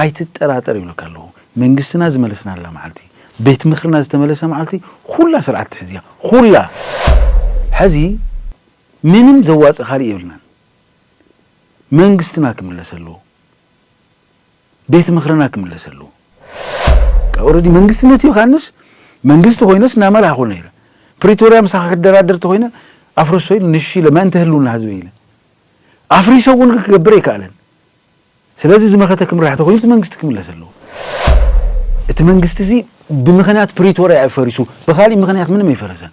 ኣይትጠራጠር ይብለካ ኣለኹ መንግስትና ዝመለስናላ መዓልቲ ቤት ምኽርና ዝተመለሰ መዓልቲ ኹላ ስርዓት ትሕዝ እያ ኹላ ሐዚ ምንም ዘዋፅእ ኻሊእ የብልናን መንግስትና ክምለስ ኣለዎ ቤት ምኽርና ክምለስ ኣለዎ ኦረዲ መንግስትነት ይኻንስ መንግስቲ ኾይነስ እናመራህ ኾነ ይረ ፕሪቶሪያ ምሳኻ ክደራደር ተኾይነ ኣፍርሶ ኢሉ ንሽ ኢለ መእንተ ህልውና ህዝበ ኢለ ኣፍሪሰ እውን ክገብር ኣይከኣለን ስለዚ ዝመኸተ ክምራሕ ተኾይኑ እቲ መንግስቲ ክምለስ ኣለዎ። እቲ መንግስቲ እዚ ብምኸንያት ፕሪቶርያ እዩ ፈሪሱ፣ ብኻሊእ ምኸንያት ምንም ኣይፈረሰን።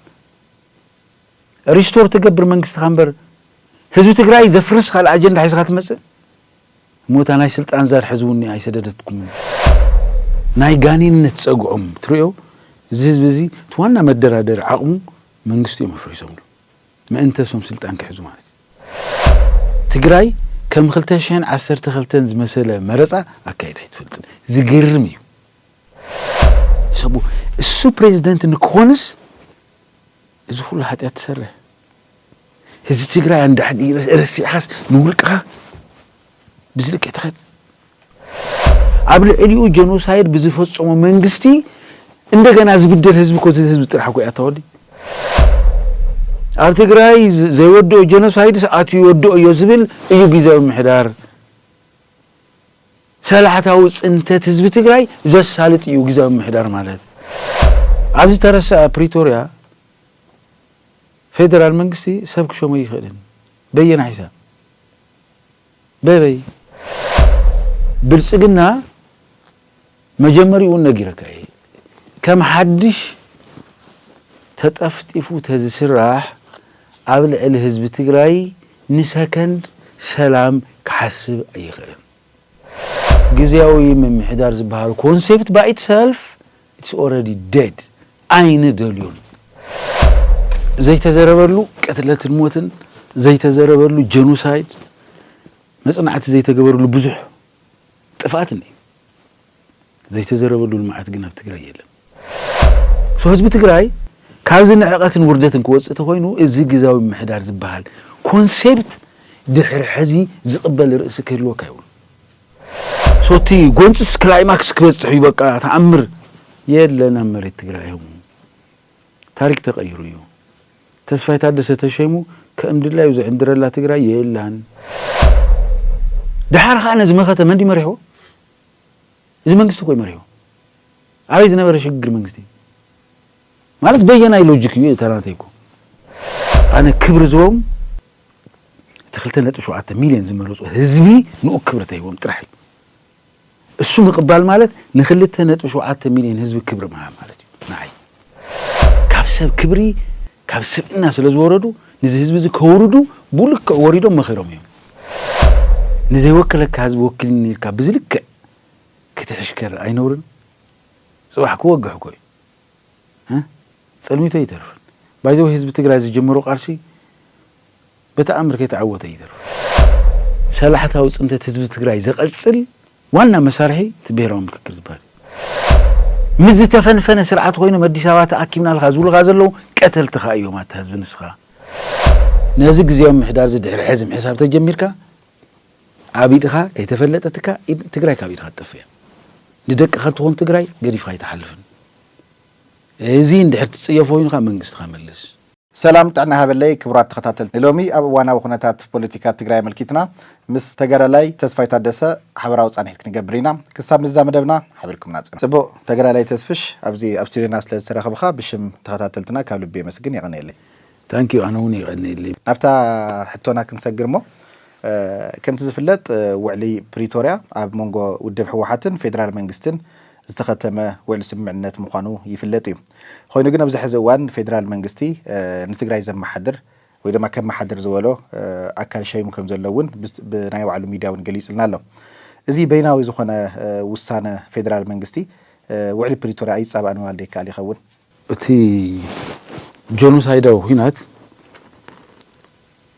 ሪስቶር ትገብር መንግስትኻ እምበር ህዝቢ ትግራይ ዘፍርስ ካልእ ኣጀንዳ ሒዝኻ ትመፅእ? እሞ እታ ናይ ስልጣን ዛር ሕዚ እውን ኣይሰደደትኩምን እያ። ናይ ጋኔንነት ፀግዖም ትርእዮ እዚ ህዝቢ እዚ እቲ ዋና መደራደሪ ዓቕሙ መንግስቲ እዮም ኣፍሪሶምሉ። ምእንተ እሶም ስልጣን ክሕዙ ማለት እዩ። ትግራይ ከም ክልተ ሽሕን ዓሰርተ ክልተን ዝመሰለ መረፃ ኣካይዳ ኣይትፈልጥን። ዝገርም እዩ። ሰቡ እሱ ፕሬዝደንት ንክኾንስ እዚ ኩሉ ሓጢኣት ትሰርሕ ህዝቢ ትግራይ ኣንዳሕዲ ረሲዕኻስ ንውልቅኻ ብዝልክዕ ትኸድ ኣብ ልዕሊኡ ጀኖሳይድ ብዝፈፀሞ መንግስቲ እንደገና ዝብደል ህዝቢ ኮ ህዝቢ ጥራሕ ኮ ኣተወዲ ኣብ ትግራይ ዘይወድኦ ጀኖሳይድስ ኣትዩ ይወድኦ እዮ ዝብል እዩ ግዜያዊ ምሕዳር ሰላሕታዊ ፅንተት ህዝቢ ትግራይ ዘሳልጥ እዩ ግዜያዊ ምሕዳር ማለት ኣብዚ ተረሰ ፕሪቶርያ ፌደራል መንግስቲ ሰብ ክሾመ ይኽእልን በየና ሒሳብ በበይ ብልፅግና መጀመሪኡውን ነጊረካ እየ ከም ሓድሽ ተጠፍጢፉ ተዝስራሕ ኣብ ልዕሊ ህዝቢ ትግራይ ንሰከንድ ሰላም ክሓስብ ኣይኽእልን። ግዝያዊ ምምሕዳር ዝበሃል ኮንሴፕት ባይትሰልፍ ኢትስ ኦረዲ ደድ ኣይንደልዮን ዘይተዘረበሉ ቅትለትን ሞትን ዘይተዘረበሉ ጀኖሳይድ መጽናዕቲ ዘይተገበርሉ ብዙሕ ጥፍኣት እኒ ዘይተዘረበሉ ልምዓት ግን ኣብ ትግራይ የለን። ህዝቢ ትግራይ ካብዚ ንዕቐትን ውርደትን ክወፅእ ተኾይኑ እዚ ግዛዊ ምሕዳር ዝበሃል ኮንሴፕት ድሕሪ ሕዚ ዝቕበል ርእሲ ክህልወካ የብሉን። ሶቲ ጎንፅስ ክላይማክስ ክበፅሕ እዩ በቃ ተኣምር የለን ኣብ መሬት ትግራይ ዮም ታሪክ ተቀይሩ እዩ ተስፋይ ታደሰ ተሸይሙ ከም ድላዩ ዝዕንድረላ ትግራይ የላን ድሓር ከዓ ነዚ መኸተ መንዲ መሪሕዎ እዚ መንግስቲ ኮይ መሪሕዎ ኣበይ ዝነበረ ሽግግር መንግስቲ ማለት በየናይ ሎጂክ እዩ ተናተይኩ ኣነ ክብሪ ዝቦም እቲ ክልተ ነጥቢ ሸውዓተ ሚልዮን ዝመረፁ ህዝቢ ንኡ ክብሪ ተሂቦም ጥራሕ እዩ። እሱ ምቕባል ማለት ንክልተ ነጥቢ ሸውዓተ ሚልዮን ህዝቢ ክብሪ ምሃብ ማለት እዩ። ንዓይ ካብ ሰብ ክብሪ ካብ ስብእና ስለ ዝወረዱ ንዚ ህዝቢ እዚ ከውርዱ ብልክዕ ወሪዶም መኺሮም እዮም። ንዘይወከለካ ህዝቢ ወኪልኒ ኢልካ ብዚ ልክዕ ክትሕሽከር ኣይነውርን? ፅባሕ ክወግሕ እኮ እዩ። ፀልሚቱ ኣይተርፍን ባይ ዘ ዌይ ህዝቢ ትግራይ ዝጀመሮ ቃልሲ በተኣምር ከይተዓወተ ኣይተርፍን። ሰላሕታዊ ፅንተት ህዝቢ ትግራይ ዘቐፅል ዋና መሳርሒ እቲ ብሄራዊ ምክክር ዝበሃል እዩ። ምስ ዝተፈንፈነ ስርዓት ኮይኖም ኣዲስ ኣበባ ተኣኪብናልካ ዝብሉኻ ዘለዉ ቀተልትኻ እዮም ኣታ ህዝቢ ንስኻ። ነዚ ግዝያዊ ምምሕዳር እዚ ድሕሪ ሕዚ ምሕሳብ ተጀሚርካ ኣብ ኢድኻ ከይተፈለጠትካ ትግራይ ካብ ኢድኻ ትጠፍእ እያ። ንደቅኻ እትኾን ትግራይ ገዲፍኻ ኣይትሓልፍን። እዚ እንድሕር ትፅየፎ ኮይንካ መንግስትኻ መልስ። ሰላም ጥዕና ይሃበለይ ክቡራት ተኸታተልቲ ንሎሚ ኣብ እዋናዊ ኩነታት ፖለቲካ ትግራይ ኣመልኪትና ምስ ተጋዳላይ ተስፋይ ታደሰ ሓበራዊ ፃንሒት ክንገብር ኢና ክሳብ ንዛ መደብና ሓቢርኩምና ፅንሑ። ፅቡቕ ተጋዳላይ ተስፍሽ ኣብዚ ኣብ ስቱድዮና ስለ ዝተረኽብኻ ብሽም ተኸታተልትና ካብ ልቢ የመስግን የቐንየለይ። Thank you ኣነ ውን የቀንየለይ። ናብታ ሕቶና ክንሰግር እሞ ከምቲ ዝፍለጥ ውዕሊ ፕሪቶርያ ኣብ መንጎ ውድብ ህወሓትን ፌዴራል መንግስትን ዝተኸተመ ውዕሊ ስምምዕነት ምዃኑ ይፍለጥ እዩ። ኾይኑ ግን ኣብዚ ሕዚ እዋን ፌዴራል መንግስቲ ንትግራይ ዘመሓድር ወይ ድማ ከመሓድር ዝበሎ ኣካል ሸይሙ ከም ዘሎ እውን ብናይ ባዕሉ ሚድያ እውን ገሊፁልና ኣሎ። እዚ በይናዊ ዝኾነ ውሳነ ፌዴራል መንግስቲ ውዕሊ ፕሪቶርያ ኣይፃባእን ምባል ዶ ይከኣል ይኸውን? እቲ ጆኖሳይዳዊ ኹናት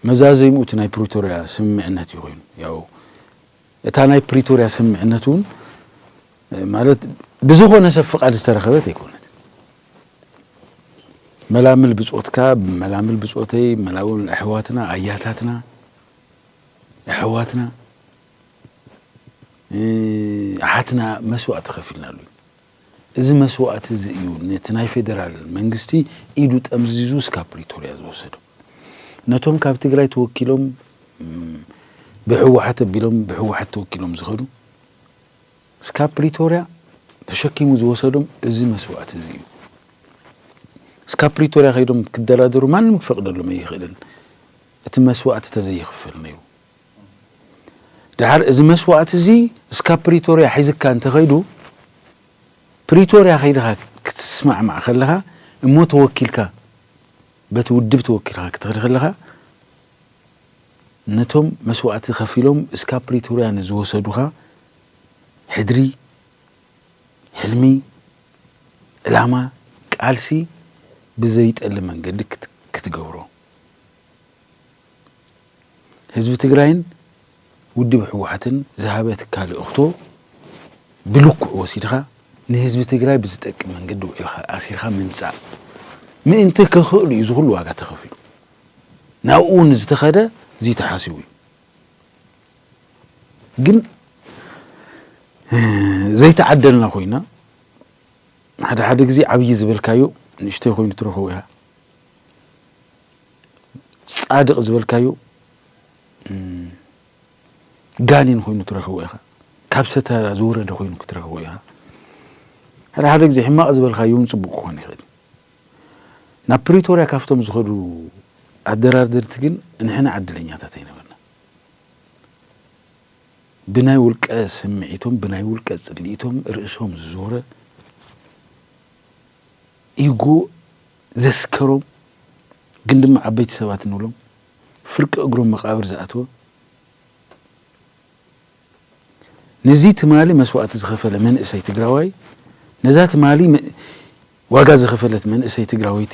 መዛዘሚኡ እቲ ናይ ፕሪቶርያ ስምምዕነት እዩ ኮይኑ ያው እታ ናይ ፕሪቶርያ ስምምዕነት እውን ማለት ብዝኾነ ሰብ ፍቃድ ዝተረኸበት ኣይኮነት መላምል ብጾትካ መላምል ብጾተይ መላውን ኣሕዋትና ኣያታትና ኣሕዋትና ኣሓትና መስዋእቲ ከፊልናሉ እዚ መስዋእቲ እዚ እዩ ነቲ ናይ ፌደራል መንግስቲ ኢዱ ጠምዚዙ እስካብ ፕሪቶርያ ዝወሰዶ። ነቶም ካብ ትግራይ ተወኪሎም ብህወሓት ኣቢሎም ብህወሓት ተወኪሎም ዝኸዱ እስካብ ፕሪቶርያ ተሸኪሙ ዝወሰዶም እዚ መስዋእቲ እዚ እዩ። እስካብ ፕሪቶርያ ከይዶም ክደራደሩ ማንም ክፈቅደሎም ኣይኽእልን እቲ መስዋእቲ ተዘይኽፈል ነይሩ። ደሓር እዚ መስዋእቲ እዚ እስካብ ፕሪቶርያ ሒዝካ እንተኸይዱ ፕሪቶርያ ከይድኻ ክትስማዕማዕ ከለኻ እሞ ተወኪልካ በቲ ውድብ ተወኪልካ ክትኸድ ከለኻ ነቶም መስዋእቲ ከፊሎም እስካብ ፕሪቶርያ ንዝወሰዱኻ ሕድሪ ሕልሚ ዕላማ ቃልሲ ብዘይጠሊ መንገዲ ክትገብሮ ህዝቢ ትግራይን ውድብ ህወሓትን ዝሃበ ትካል ልእኽቶ ብልክዑ ወሲድኻ ንህዝቢ ትግራይ ብዝጠቅም መንገዲ ውዒልኻ ኣሲርኻ ምምፃእ ምእንቲ ክኽእሉ እዩ ዝኹሉ ዋጋ ተኸፊሉ ናብኡ እውን ዝተኸደ እዙይ ተሓሲቡ እዩ ግን ዘይተዓደልና ኮይና ሓደ ሓደ ግዜ ዓብዪ ዝበልካዮ ንእሽተይ ኮይኑ ትረኸቦ ኢኻ ጻድቅ ዝበልካዮ ጋኔን ኮይኑ ትረክቦ ኢካ ካብ ሰተራ ዝወረደ ኮይኑ ክትረክቦ ኢካ ሓደ ሓደ ግዜ ሕማቅ ዝበልካዮ እውን ጽቡቅ ክኮን ይክእል ናብ ፕሪቶርያ ካብቶም ዝኸዱ ኣደራደርቲ ግን ንሕና ዕድለኛታት ኣይነበርና ብናይ ውልቀ ስምዒቶም ብናይ ውልቀ ጽልኢቶም ርእሶም ዝዞረ ኢጎ ዘስከሮም ግን ድማ ዓበይቲ ሰባት እንብሎም ፍርቂ እግሮም መቓብር ዝኣተወ ንዚ ትማሊ መስዋእቲ ዝኸፈለ መንእሰይ ትግራዋይ ነዛ ትማሊ ዋጋ ዝኸፈለት መንእሰይ ትግራወይቲ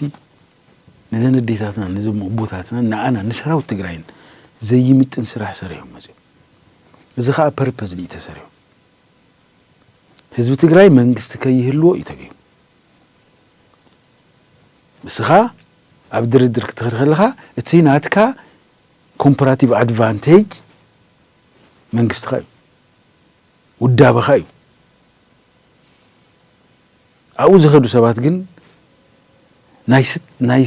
ነዘን ኣዴታትናን ነዞም ኣቦታትናን ንኣና ንሰራዊት ትግራይን ዘይምጥን ስራሕ ሰሪሖም መፅኦም እዚ ከዓ ፐርፐዝ እዩ ተሰሪሑ ህዝቢ ትግራይ መንግስቲ ከይህልዎ እዩ ተገይሩ ንስኻ ኣብ ድርድር ክትኸድ ከለኻ እቲ ናትካ ኮምፐራቲቭ ኣድቫንቴጅ መንግስትኻ እዩ፣ ውዳበኻ እዩ። ኣብኡ ዝኸዱ ሰባት ግን ናይ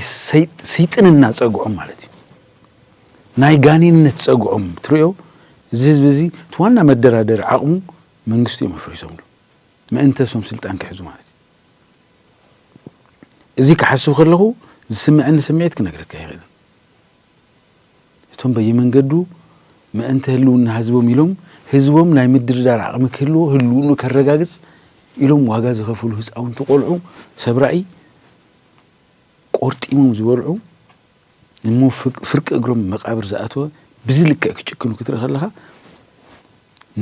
ስይጥንና ፀግዖም ማለት እዩ፣ ናይ ጋኔንነት ፀግዖም ትርእዮ። እዚ ህዝቢ እዚ እቲ ዋና መደራደሪ ዓቕሙ መንግስቱ እዮም ኣፍሪሶምሉ ምእንተ እሶም ስልጣን ክሕዙ ማለት እዩ። እዚ ክሓስብ ከለኹ ዝስመዐኒ ስምዒት ክነግረካ ኣይኽእልን። እቶም በየመንገዱ ምእንተ ህልውና ህዝቦም ኢሎም ህዝቦም ናይ ምድርዳር ዓቕሚ ክህልዎ ህልውኑ ከረጋግፅ ኢሎም ዋጋ ዝኸፍሉ ህፃውንቲ ቆልዑ ሰብ ራእይ ቆርጢሞም ዝበልዑ እሞ ፍርቂ እግሮም መቃብር ዝኣተወ ብዚ ልክዕ ክጭክኑ ክትርኢ ከለኻ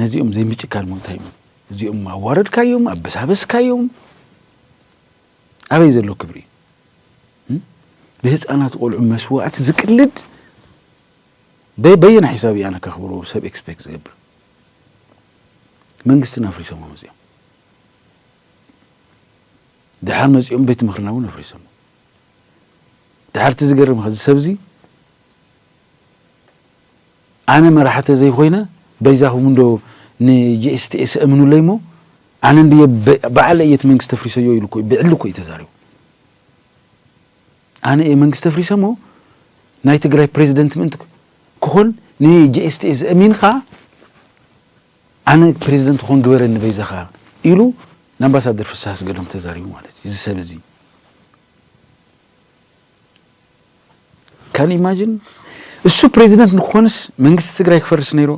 ነዚኦም ዘይምጭካን እሞ እንታይ እሞ እዚኦም ኣዋረድካዮም ኣበሳበስካዮም ኣበይ ዘሎ ክብሪ እዩ ብህፃናት ቆልዑ መስዋእቲ ዝቅልድ በየና ሒሳብ ኣነ ከኽብሮ ሰብ ኤክስፔክት ዝገብር መንግስትን ኣፍሪሶሞ መፅኦም ድሓር መፅኦም ቤት ምኽርና እውን ኣፍሪሶሞ ድሓር እቲ ዝገርምካ እዚ ሰብዚ ኣነ መራሒ ተዘይኮይነ በይዛኹም እንዶ ንጂኤስቲኤስ እእምኑለይ እሞ ኣነ እንድየ ባዕለይ እየ እቲ መንግስቲ ተፍሪሰዮ ኢሉ እኮ ብዕሊ እኮ እዩ ተዛሪቡ። ኣነ እየ መንግስቲ ተፍሪሰ እሞ ናይ ትግራይ ፕሬዚደንት ምእንቲ ክኾን ንጂኤስቲኤስ እሚንካ ኣነ ፕሬዚደንት ክኾን ግበረኒ በይዛኻ ኢሉ ንኣምባሳደር ፍስሃ ኣስገዶም ተዛሪቡ ማለት እዩ እዚ ሰብ እዚ ካን ኢማጂን እሱ ፕሬዚደንት ንክኾንስ መንግስቲ ትግራይ ክፈርስ ነይሩ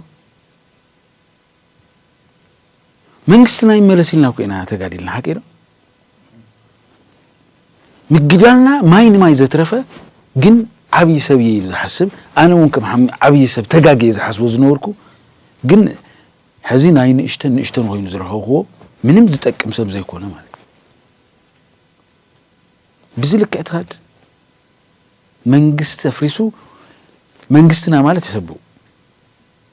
መንግስትና ይመለስ ኢልና እኮ ኢና ተጋዲልና ሓቂዶ ምግዳልና ማይ ንማይ ዘትረፈ ግን ዓብይ ሰብ እየ ኢሉ ዝሓስብ ኣነ እውን ከም ዓብይ ሰብ ተጋግ እየ ዝሓስቦ ዝነበርኩ ግን ሕዚ ናይ ንእሽተን ንእሽተን ኮይኑ ዝረኸብክዎ ምንም ዝጠቅም ሰብ ዘይኮነ ማለት ብዚ ልክዕ ትኸድ መንግስቲ ተፍሪሱ መንግስትና ማለት የሰብኡ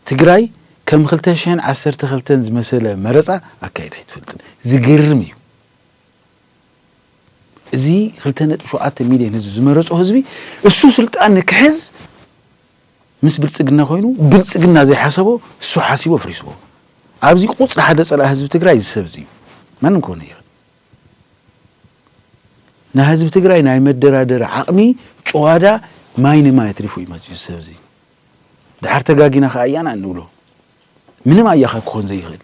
ትግራይ ከም ክልተ ሽሕን ዓሰርተ ክልተን ዝመሰለ መረፃ ኣካይዳ ኣይትፈልጥን ዝገርም እዩ እዚ ክልተ ነጥቢ ሸውዓተ ሚልዮን ህዝቢ ዝመረፆ ህዝቢ እሱ ስልጣን ንክሕዝ ምስ ብልፅግና ኮይኑ ብልፅግና ዘይሓሰቦ እሱ ሓሲቦ ፍሪስዎ ኣብዚ ቁፅሪ ሓደ ፀላእ ህዝቢ ትግራይ እዚ ሰብ እዚ እዩ ማንም ክኾነ ይኽእል ናይ ህዝቢ ትግራይ ናይ መደራደሪ ዓቕሚ ጨዋዳ ማይ ንማይ ኣትሪፉ እዩ መፅኡ እዚ ሰብ እዚ ድሓር ተጋጊና ከኣ ኣያና እንብሎ ምንም ኣያኻ ክኾን ዘይኽእል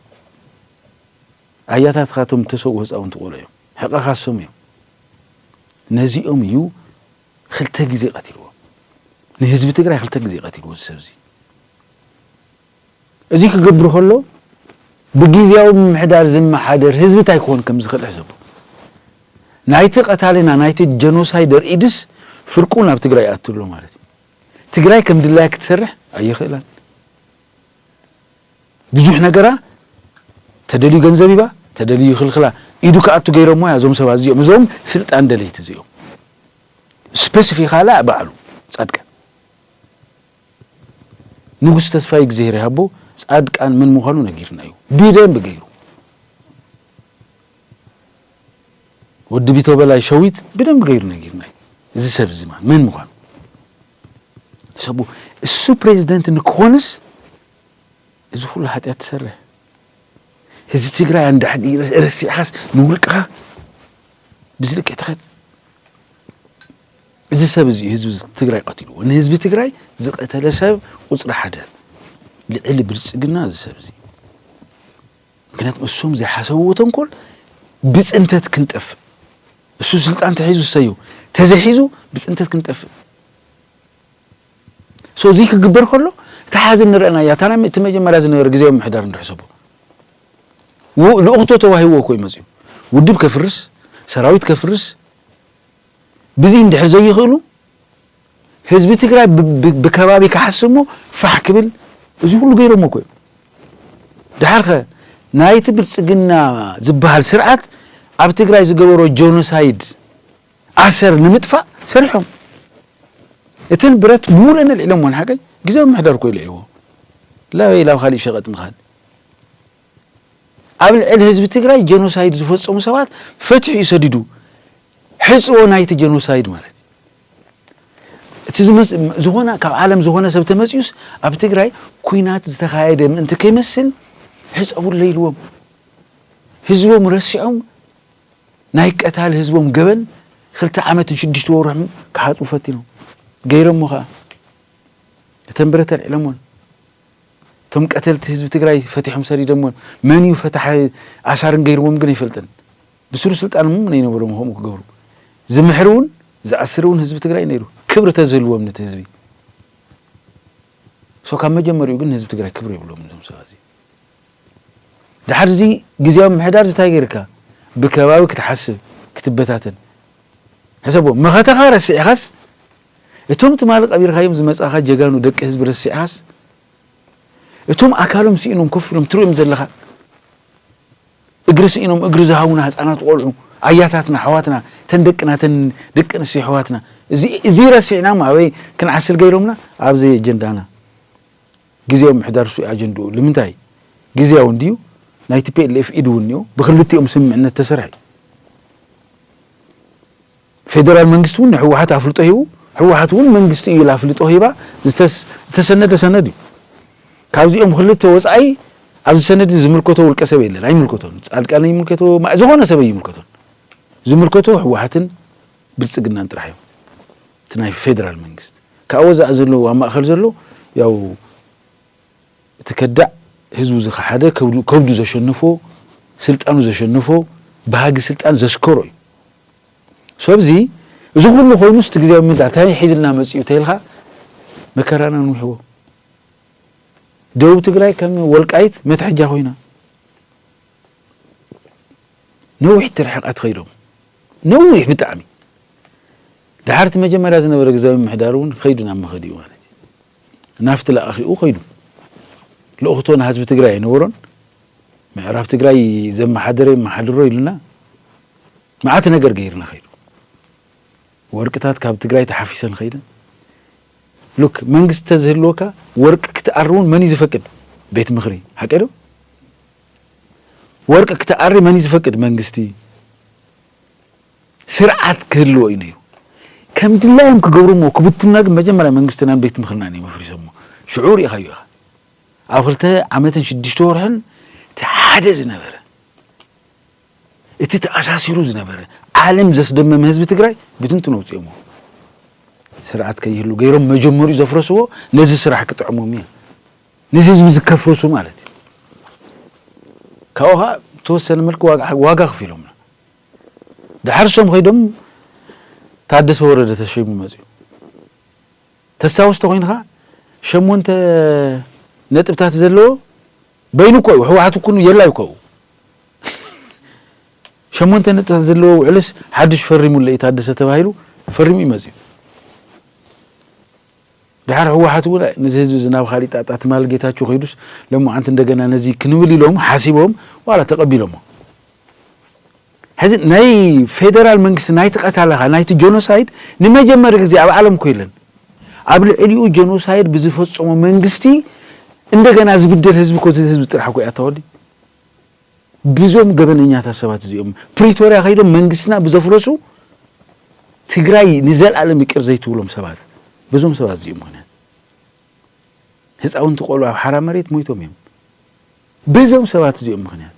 ኣያታትካ እቶም ዝተሰውኡ ህፃውንቲ ቆልዑ እዮም ሕቐኻ እሶም እዮም ነዚኦም እዩ ክልተ ግዜ ቀቲልዎ ንህዝቢ ትግራይ ክልተ ግዜ ቀቲልዎ እዚ ሰብዚ እዚ ክገብር ከሎ ብግዜያዊ ምምሕዳር ዝመሓደር ህዝቢ እንታይ ክኾን ከም ዝኽእል ሕሰቡ ናይቲ ቀታሊና ናይቲ ጀኖሳይደር ኢድስ ፍርቁ ናብ ትግራይ ይኣቱ ኣሎ ማለት እዩ ትግራይ ከም ድላያ ክትሰርሕ ኣይኽእላን። ብዙሕ ነገራ ተደልዩ ገንዘብ ሂባ ተደልዩ ይኽልኽላ ኢዱ ክኣቱ ገይሮሞ እያ እዞም ሰባት እዚኦም እዞም ስልጣን ደለይቲ እዚኦም ስፐሲፊካላ ባዕሉ ጻድቃን ንጉስ ተስፋይ እግዚኣብሔር ይሃቦ ጻድቃን ምን ምዃኑ ነጊርና እዩ ብደንብ ገይሩ ወዲ ቢቶበላይ ሸዊት ብደንቢ ገይሩ ነጊሩና እዩ እዚ ሰብ እዚ ማለት መን ምዃኑ ሰቡ እሱ ፕሬዚደንት ንክኾንስ እዚ ኩሉ ሓጢኣት ትሰርሕ ህዝቢ ትግራይ ኣንዳሕዲ ረሲዕኻስ ንውልቅኻ ብዝልክዕ ትኸድ እዚ ሰብ እዚ ህዝቢ ትግራይ ቀትልዎ ንህዝቢ ትግራይ ዝቀተለ ሰብ ቁፅሪ ሓደ ልዕሊ ብልፅግና እዚ ሰብ እዚ ምክንያቱ እሶም ዘይሓሰብዎ ተንኮል ብፅንተት ክንጠፍእ እሱ ስልጣን ተሒዙ ሰዩ ተዘሒዙ ብፅንተት ክንጠፍእ ሶ እዚ ክግበር ከሎ እታ ሓዚ ንረአና እያ እታ እቲ መጀመርያ ዝነበረ ግዜ ምሕዳር ንድሕሰቦ ልኡኽቶ ተዋሂዎ እኮ እዩ መፅኡ ውድብ ከፍርስ ሰራዊት ከፍርስ ብዚ እንድሕር ዘይኽእሉ ህዝቢ ትግራይ ብከባቢ ክሓስብ እሞ ፋሕ ክብል እዚ ኩሉ ገይሮሞ እኮ እዮም። ድሓር ከ ናይቲ ብልፅግና ዝበሃል ስርዓት ኣብ ትግራይ ዝገበሮ ጆኖሳይድ ኣሰር ንምጥፋእ ሰሪሖም እተን ብረት ምሉእን ኣልዒሎሞን ሓቀይ ግዜ ምሕደር እኮ ኢልዒዎ ላበይ ላብ ካሊእ ሸቐጥ ምኻድ ኣብ ልዕሊ ህዝቢ ትግራይ ጀኖሳይድ ዝፈፀሙ ሰባት ፈትሑ እዩ ሰዲዱ ሕፅቦ ናይቲ ጀኖሳይድ ማለት እቲ ዝኾነ ካብ ዓለም ዝኾነ ሰብ ተመፅዩስ ኣብ ትግራይ ኩናት ዝተኻየደ ምእንቲ ከይመስል ሕፀቡለይ ኢልዎም ህዝቦም ረሲዖም ናይ ቀታሊ ህዝቦም ገበን ክልተ ዓመትን ሽዱሽተ ወርሕን ክሓፅቡ ፈቲኖም ገይሮሞ ከዓ እተን ብረት ኣልዒሎሞን እቶም ቀተልቲ ህዝቢ ትግራይ ፈቲሖም ሰዲዶሞን መን እዩ ፈታሒ ኣሳርን ገይርዎም ግን ኣይፈልጥን ብስሩ ስልጣን ም ነይነበሮም ከምኡ ክገብሩ ዝምሕር እውን ዝኣስር እውን ህዝቢ ትግራይ ነይሩ ክብሪ ተዝህልዎም ነቲ ህዝቢ ሶ ካብ መጀመሪኡ ግን ህዝቢ ትግራይ ክብሪ የብሎም እዞም ሰባት እዚ ድሓር እዚ ግዜያዊ ምሕዳር ዝታይ ጌርካ ብከባቢ ክትሓስብ ክትበታተን ሕሰቦ መኸተኻ ረሲዕኻስ እቶም ትማሊ ቀቢርካዮም ዝመጻኻ ጀጋኑ ደቂ ህዝቢ ረሲዕኻስ እቶም ኣካሎም ስኢኖም ኮፍ ኢሎም ትርእዮም ዘለኻ እግሪ ስኢኖም እግሪ ዝሃቡና ህጻናት ቆልዑ ኣያታትና ኣሕዋትና እተን ደቅና እተን ደቂ ኣንስትዮ ኣሕዋትና እዚ እዚ ረሲዕናም ኣበይ ክንዓስል ገይሮምና ኣብዚ ኣጀንዳና ግዜያዊ ምሕዳር እሱ እዩ ኣጀንድኡ ልምንታይ ግዜያዊ እንድዩ ናይ ቲፒኤልኤፍ ኢድ እውን እኒኦ ብክልቲኦም ስምምዕነት ተሰርሐ እዩ ፌደራል መንግስቲ እውን ንህወሓት ኣፍልጦ ሂቡ፣ ህወሓት እውን መንግስቲ እዩ ኢላ ኣፍልጦ ሂባ ዝተሰነደ ሰነድ እዩ። ካብዚኦም ክልተ ወፃኢ ኣብዚ ሰነድ እዚ ዝምልከቶ ውልቀ ሰብ የለን፣ ኣይምልከቶን። ፃድቃን ኣይምልከቶ፣ ዝኾነ ሰብ ኣይምልከቶን። ዝምልከቶ ህወሓትን ብልፅግናን ጥራሕ እዮም፣ እቲ ናይ ፌደራል መንግስቲ። ካብኡ ወፃኢ ዘሎ ኣብ ማእኸል ዘሎ ያው እቲ ከዳዕ ህዝቡ ዝኸሓደ ከብዱ ዘሸነፎ ስልጣኑ ዘሸነፎ ባህጊ ስልጣን ዘስከሮ እዩ ሰብዚ እዚ ኩሉ ኮይኑስ እቲ ግዝያዊ ምምሕዳር እንታይ ሒዝልና መፂኡ ተይልካ መከራና ንውሕቦ ደቡብ ትግራይ ከም ወልቃይት መትሐጃ ኮይና ነዊሕ ትርሕቀት ከይዶም ነዊሕ ብጣዕሚ ድሓርቲ መጀመርያ ዝነበረ ግዝያዊ ምምሕዳር እውን ከይዱ ናብ መኸዲኡ ማለት እዩ ናፍቲ ለኣኺኡ ከይዱ ልእኽቶ ንሃዝቢ ትግራይ ኣይነበሮን ምዕራብ ትግራይ ዘመሓደረ የመሓድሮ ኢሉና መዓት ነገር ገይርና ከይዱ ወርቅታት ካብ ትግራይ ተሓፊሰን ከይደን ሉክ መንግስቲ ተዝህልወካ ወርቂ ክትኣሪ እውን መን እዩ ዝፈቅድ ቤት ምኽሪ ሓቀ ዶ ወርቂ ክትኣሪ መን እዩ ዝፈቅድ መንግስቲ ስርዓት ክህልዎ እዩ ነይሩ። ከም ድላዮም ክገብርዎ ክብትኑና ግን መጀመርያ መንግስትናን ቤት ምኽርናን እዮም ኣፍሪሶሞ። ሽዑ ርኢኻዮ ኢኻ። ኣብ ክልተ ዓመትን ሽዱሽተ ወርሕን እቲ ሓደ ዝነበረ እቲ ተኣሳሲሩ ዝነበረ ዓለም ዘስደመመ ህዝቢ ትግራይ ብትንትኑ ኣውፂኦሞ። ስርዓት ከይህሉ ገይሮም መጀመሪኡ ዘፍረስዎ ነዚ ስራሕ ክጥዕሞም እዩ። ነዚ ህዝቢ ዝከፍርሱ ማለት እዩ። ካብኡ ከዓ ተወሰነ መልክ ዋጋ ክፊሎምና። ድሓር እሶም ከይዶም ታደሰ ወረደ ተሸይሙ መፅዩ ተስታውስ ተኾይንኻ ሸሞንተ ነጥብታት ዘለዎ በይኑ እኮ እዩ ሕወሓት እኮ የላ እዩ ከኡ ሸሞንተ ነጥብታት ዘለዎ ውዕልስ ሓዱሽ ፈሪሙለ እዩ ታደሰ ተባሂሉ ፈሪሙ እዩ መፅዩ ድሓር ህወሓት እውን ነዚ ህዝቢ እዚ ናብ ካሊእ ጣጣ ትማል ጌታቸው ከይዱስ ለሞዓንቲ እንደገና ነዚ ክንብል ኢሎም ሓሲቦም ዋላ ተቀቢሎሞ ሕዚ ናይ ፌደራል መንግስቲ ናይቲ ቀታለኻ ናይቲ ጆኖሳይድ ንመጀመሪ ግዜ ኣብ ዓለም እኮ የለን ኣብ ልዕሊኡ ጆኖሳይድ ብዝፈፀሞ መንግስቲ እንደገና ዝብደል ህዝቢ እኮ እዚ ህዝቢ ጥራሕ እኮ እዩ ኣታወዲ ብዞም ገበነኛታት ሰባት እዚኦም ፕሪቶርያ ከይዶም መንግስትና ብዘፍረሱ ትግራይ ንዘልኣለም ይቅር ዘይትብሎም ሰባት ብዞም ሰባት እዚኦም ምክንያት ህፃውንቲ ቆልዑ ኣብ ሓራ መሬት ሞይቶም እዮም። ብዞም ሰባት እዚኦም ምክንያት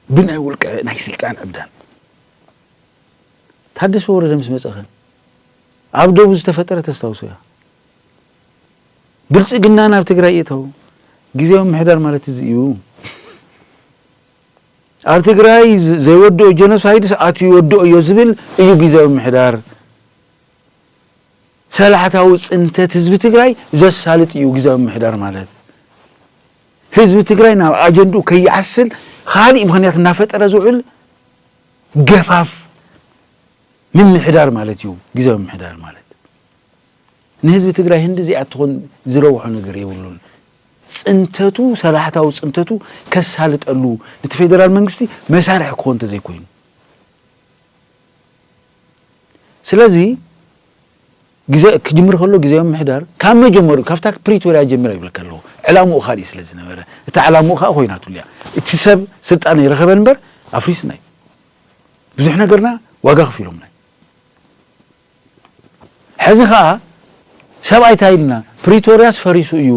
ብናይ ውልቀ ናይ ስልጣን ዕብዳን ታደሰ ወረደ ምስ መፀኸ ኣብ ደቡብ ዝተፈጠረ ተስታውሶ እያ። ብልፅግና ናብ ትግራይ ይእተው ግዝያዊ ምምሕዳር ማለት እዚ እዩ። ኣብ ትግራይ ዘይወድኦ ጀኖሳይድስ ኣትዩ ይወድኦ እዮ ዝብል እዩ ግዜያዊ ምሕዳር ሰላሕታዊ ፅንተት ህዝቢ ትግራይ ዘሳልጥ እዩ ግዜያዊ ምሕዳር ማለት ህዝቢ ትግራይ ናብ ኣጀንድኡ ከይዓስል ካሊእ ምክንያት እናፈጠረ ዝውዕል ገፋፍ ምምሕዳር ማለት እዩ ግዜያዊ ምሕዳር ማለት ንህዝቢ ትግራይ ህንድዚኣ ትኹን ዝረብሖ ነገር የብሉን። ፅንተቱ ሰላሕታዊ ፅንተቱ ከሳልጠሉ ንቲ ፌደራል መንግስቲ መሳርሒ ክኾን ተዘይኮይኑ ስለዚ ግዘ ክጅምር ከሎ ግዜያዊ ምሕዳር ካብ መጀመሩ ካብታ ፕሪቶሪያ ጀሚራ ይብለካ ኣለኹ ዕላምኡ ካሊእ ስለ ዝነበረ እታ ዕላምኡ ከዓ ኮይናትሉ እያ እቲ ሰብ ስልጣን ይረኸበ እምበር ኣፍሪስና እዩ ብዙሕ ነገርና ዋጋ ክፊሎምና እዩ ሕዚ ከኣ ሰብኣይ ታይ ኢልና ፕሪቶርያስ ፈሪሱ እዩ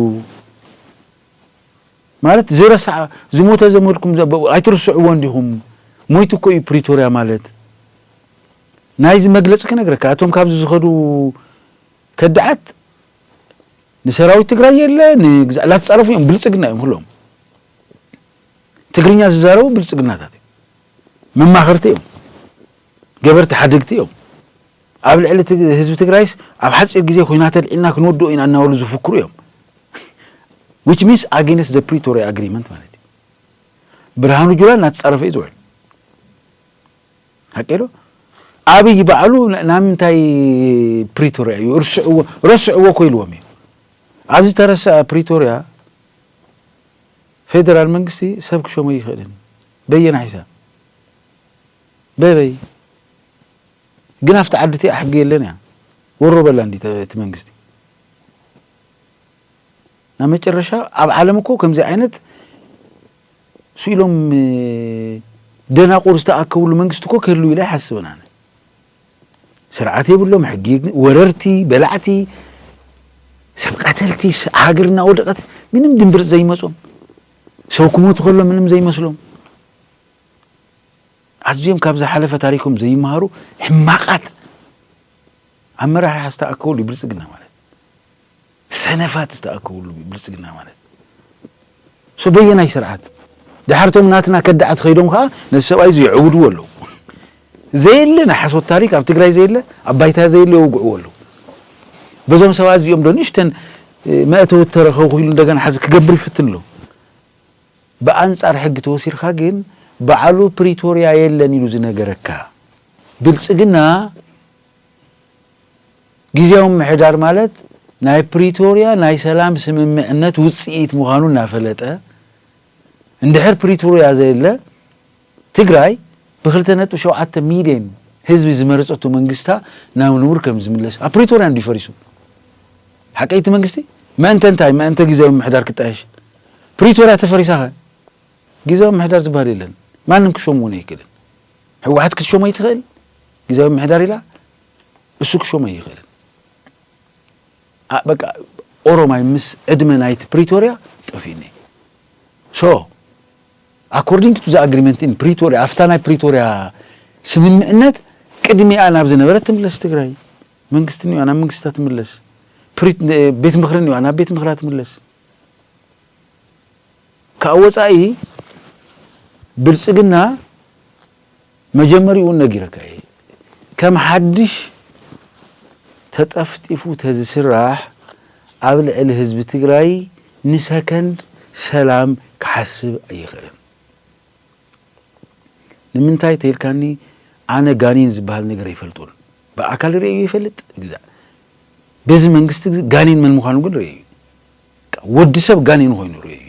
ማለት ዝረስዓ ዝሞተ ዘመድኩም ዘበ ኣይትርስዕዎ እንዲኹም ሞይቱ እኮ እዩ ፕሪቶርያ ማለት ናይዚ መግለፂ ክነግረካ እቶም ካብዚ ዝኸዱ ከዳዓት ንሰራዊት ትግራይ የለ ንግዛእ ላተፃረፉ እዮም ብልፅግና እዮም ኩሎም ትግርኛ ዝዛረቡ ብልፅግናታት እዮም መማኽርቲ እዮም ገበርቲ ሓደግቲ እዮም ኣብ ልዕሊ ህዝቢ ትግራይስ ኣብ ሓፂር ግዜ ኹናት ኣልዒልና ክንወድኦ ኢና እናበሉ ዝፍክሩ እዮም which means against the Pretoria agreement ማለት እዩ ብርሃኑ ጁላ እናተፃረፈ እዩ ዝውዕል ሓቂ ዶ ኣብይ ባዕሉ ናብ ምንታይ ፕሪቶሪያ እዩ እርስዕዎ ረስዕዎ እኮ ኢልዎም እዩ ኣብዚ ተረሰዐ ፕሪቶሪያ ፌደራል መንግስቲ ሰብ ክሸሞ ይኽእልን በየናይ ሒሳብ በበይ ግን ኣብቲ ዓዲ እቲኣ ሕጊ የለን እያ ወሮ በላ እንዲ እቲ መንግስቲ ናብ መጨረሻ ኣብ ዓለም እኮ ከምዚ ዓይነት ስኢሎም ደናቁር ዝተኣከብሉ መንግስቲ እኮ ክህልው ኢለ ኣይሓስብን ኣነ ስርዓት የብሎም ሕጊ ወረርቲ በላዕቲ ሰብ ቀተልቲ ሃገር እናወደቀት ምንም ድንብርፅ ዘይመፆም ሰው ክሞት ከሎ ምንም ዘይመስሎም ኣዝዮም ካብ ዝሓለፈ ታሪኮም ዘይመሃሩ ሕማቃት ኣመራርሓ ዝተኣከበሉ ብልፅግና ማለት ሰነፋት ዝተኣከብሉ ብልፅግና ማለት ሶ በየናይ ስርዓት ድሓርቶም ናትና ከዳዓት ኸይዶም ከዓ ነቲ ሰብኣይ እዚ የዕውድዎ ኣለዉ ዘየለ ናይ ሓሶት ታሪክ ኣብ ትግራይ ዘየለ ኣብ ባይታ ዘየለ የውግዕዎ ኣለው በዞም ሰባት እዚኦም ዶ ንእሽተን መእተዊ ተረከብኩ ኢሉ እንደገና ሓዚ ክገብር ይፍትን ኣሎ ብኣንጻር ሕጊ ተወሲድካ ግን በዓሉ ፕሪቶርያ የለን ኢሉ ዝነገረካ ብልጽግና ግዜያዊ ምምሕዳር ማለት ናይ ፕሪቶርያ ናይ ሰላም ስምምዕነት ውጽኢት ምዃኑ እናፈለጠ እንድሕር ፕሪቶርያ ዘየለ ትግራይ ብክልተ ነጥቢ ሸውዓተ ሚልየን ህዝቢ ዝመረፀቶ መንግስታ ናብ ንቡር ከምዝምለስ ኣብ ፕሪቶርያ እንድዩ ፈሪሱ ሓቀይ እቲ መንግስቲ መእንተ እንታይ መእንተ ግዝያዊ ምምሕዳር ክጣየሽ ፕሪቶርያ ተፈሪሳኸ ግዝያዊ ምምሕዳር ዝበሃል የለን ማንም ክሾም እውን ኣይክእልን ህወሓት ክትሾሞ ይትኽእል ግዝያዊ ምምሕዳር ኢላ እሱ ክሾሞ ኣይኽእልን በቃ ኦሮማይ ምስ ዕድመ ናይቲ ፕሪቶርያ ጠፊኡኒ ሶ According to the agreement in Pretoria ኣብታ ናይ ፕሪቶርያ ስምምእነት ቅድሚኣ ናብ ዝነበረት ትምለስ ትግራይ መንግስቲ እኒኣ ናብ መንግስታ ትምለስ ቤት ምክሪ እኒኣ ናብ ቤት ምክራ ትምለስ ካብ ወፃኢ ብልፅግና መጀመሪኡ ውን ነጊረካ እየ ከም ሓድሽ ተጠፍጢፉ ተዝስራሕ ኣብ ልዕሊ ህዝቢ ትግራይ ንሰከንድ ሰላም ክሓስብ ኣይኽእልን ንምንታይ ተይልካኒ ኣነ ጋኒን ዝብሃል ነገር ኣይፈልጦን ብኣካል ርእየዮ ይፈልጥ ግዛእ በዚ መንግስቲ ጋኒን መን ምዃኑ ግን ርእየዩ ወዲ ሰብ ጋኒን ኾይኑ ርእየዩ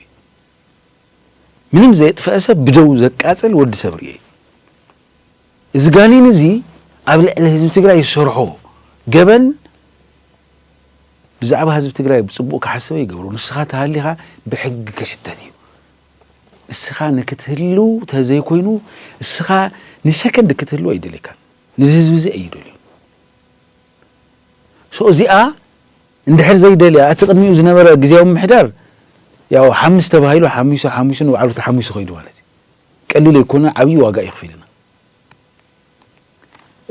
ምንም ዘየጥፈኣ ሰብ ብደዉ ዘቃጽል ወዲ ሰብ ርእየ እዩ። እዚ ጋኒን እዚ ኣብ ልዕሊ ህዝቢ ትግራይ ዝሰርሖ ገበን ብዛዕባ ህዝቢ ትግራይ ብጽቡቅ ክሓስብ ኣይገብሮ ንስኻ ተሃሊኻ ብሕጊ ክሕተት እዩ። እስኻ ንክትህልው ተዘይኮይኑ እስኻ ንሰከንድ ክትህልው ኣይደልየካን። ንዚ ህዝቢ እዚ ኣይደልዮን። ሶ እዚኣ እንድሕር ዘይደልያ እቲ ቅድሚኡ ዝነበረ ግዝያዊ ምምሕዳር ያው ሓምስ ተባሂሉ ሓሚሱ ሓሚሱ ንባዕሉ ተሓሚሱ ከይዱ ማለት እዩ። ቀሊል ኣይኮነን ዓብዪ ዋጋ እዩ ኣኽፊሉና።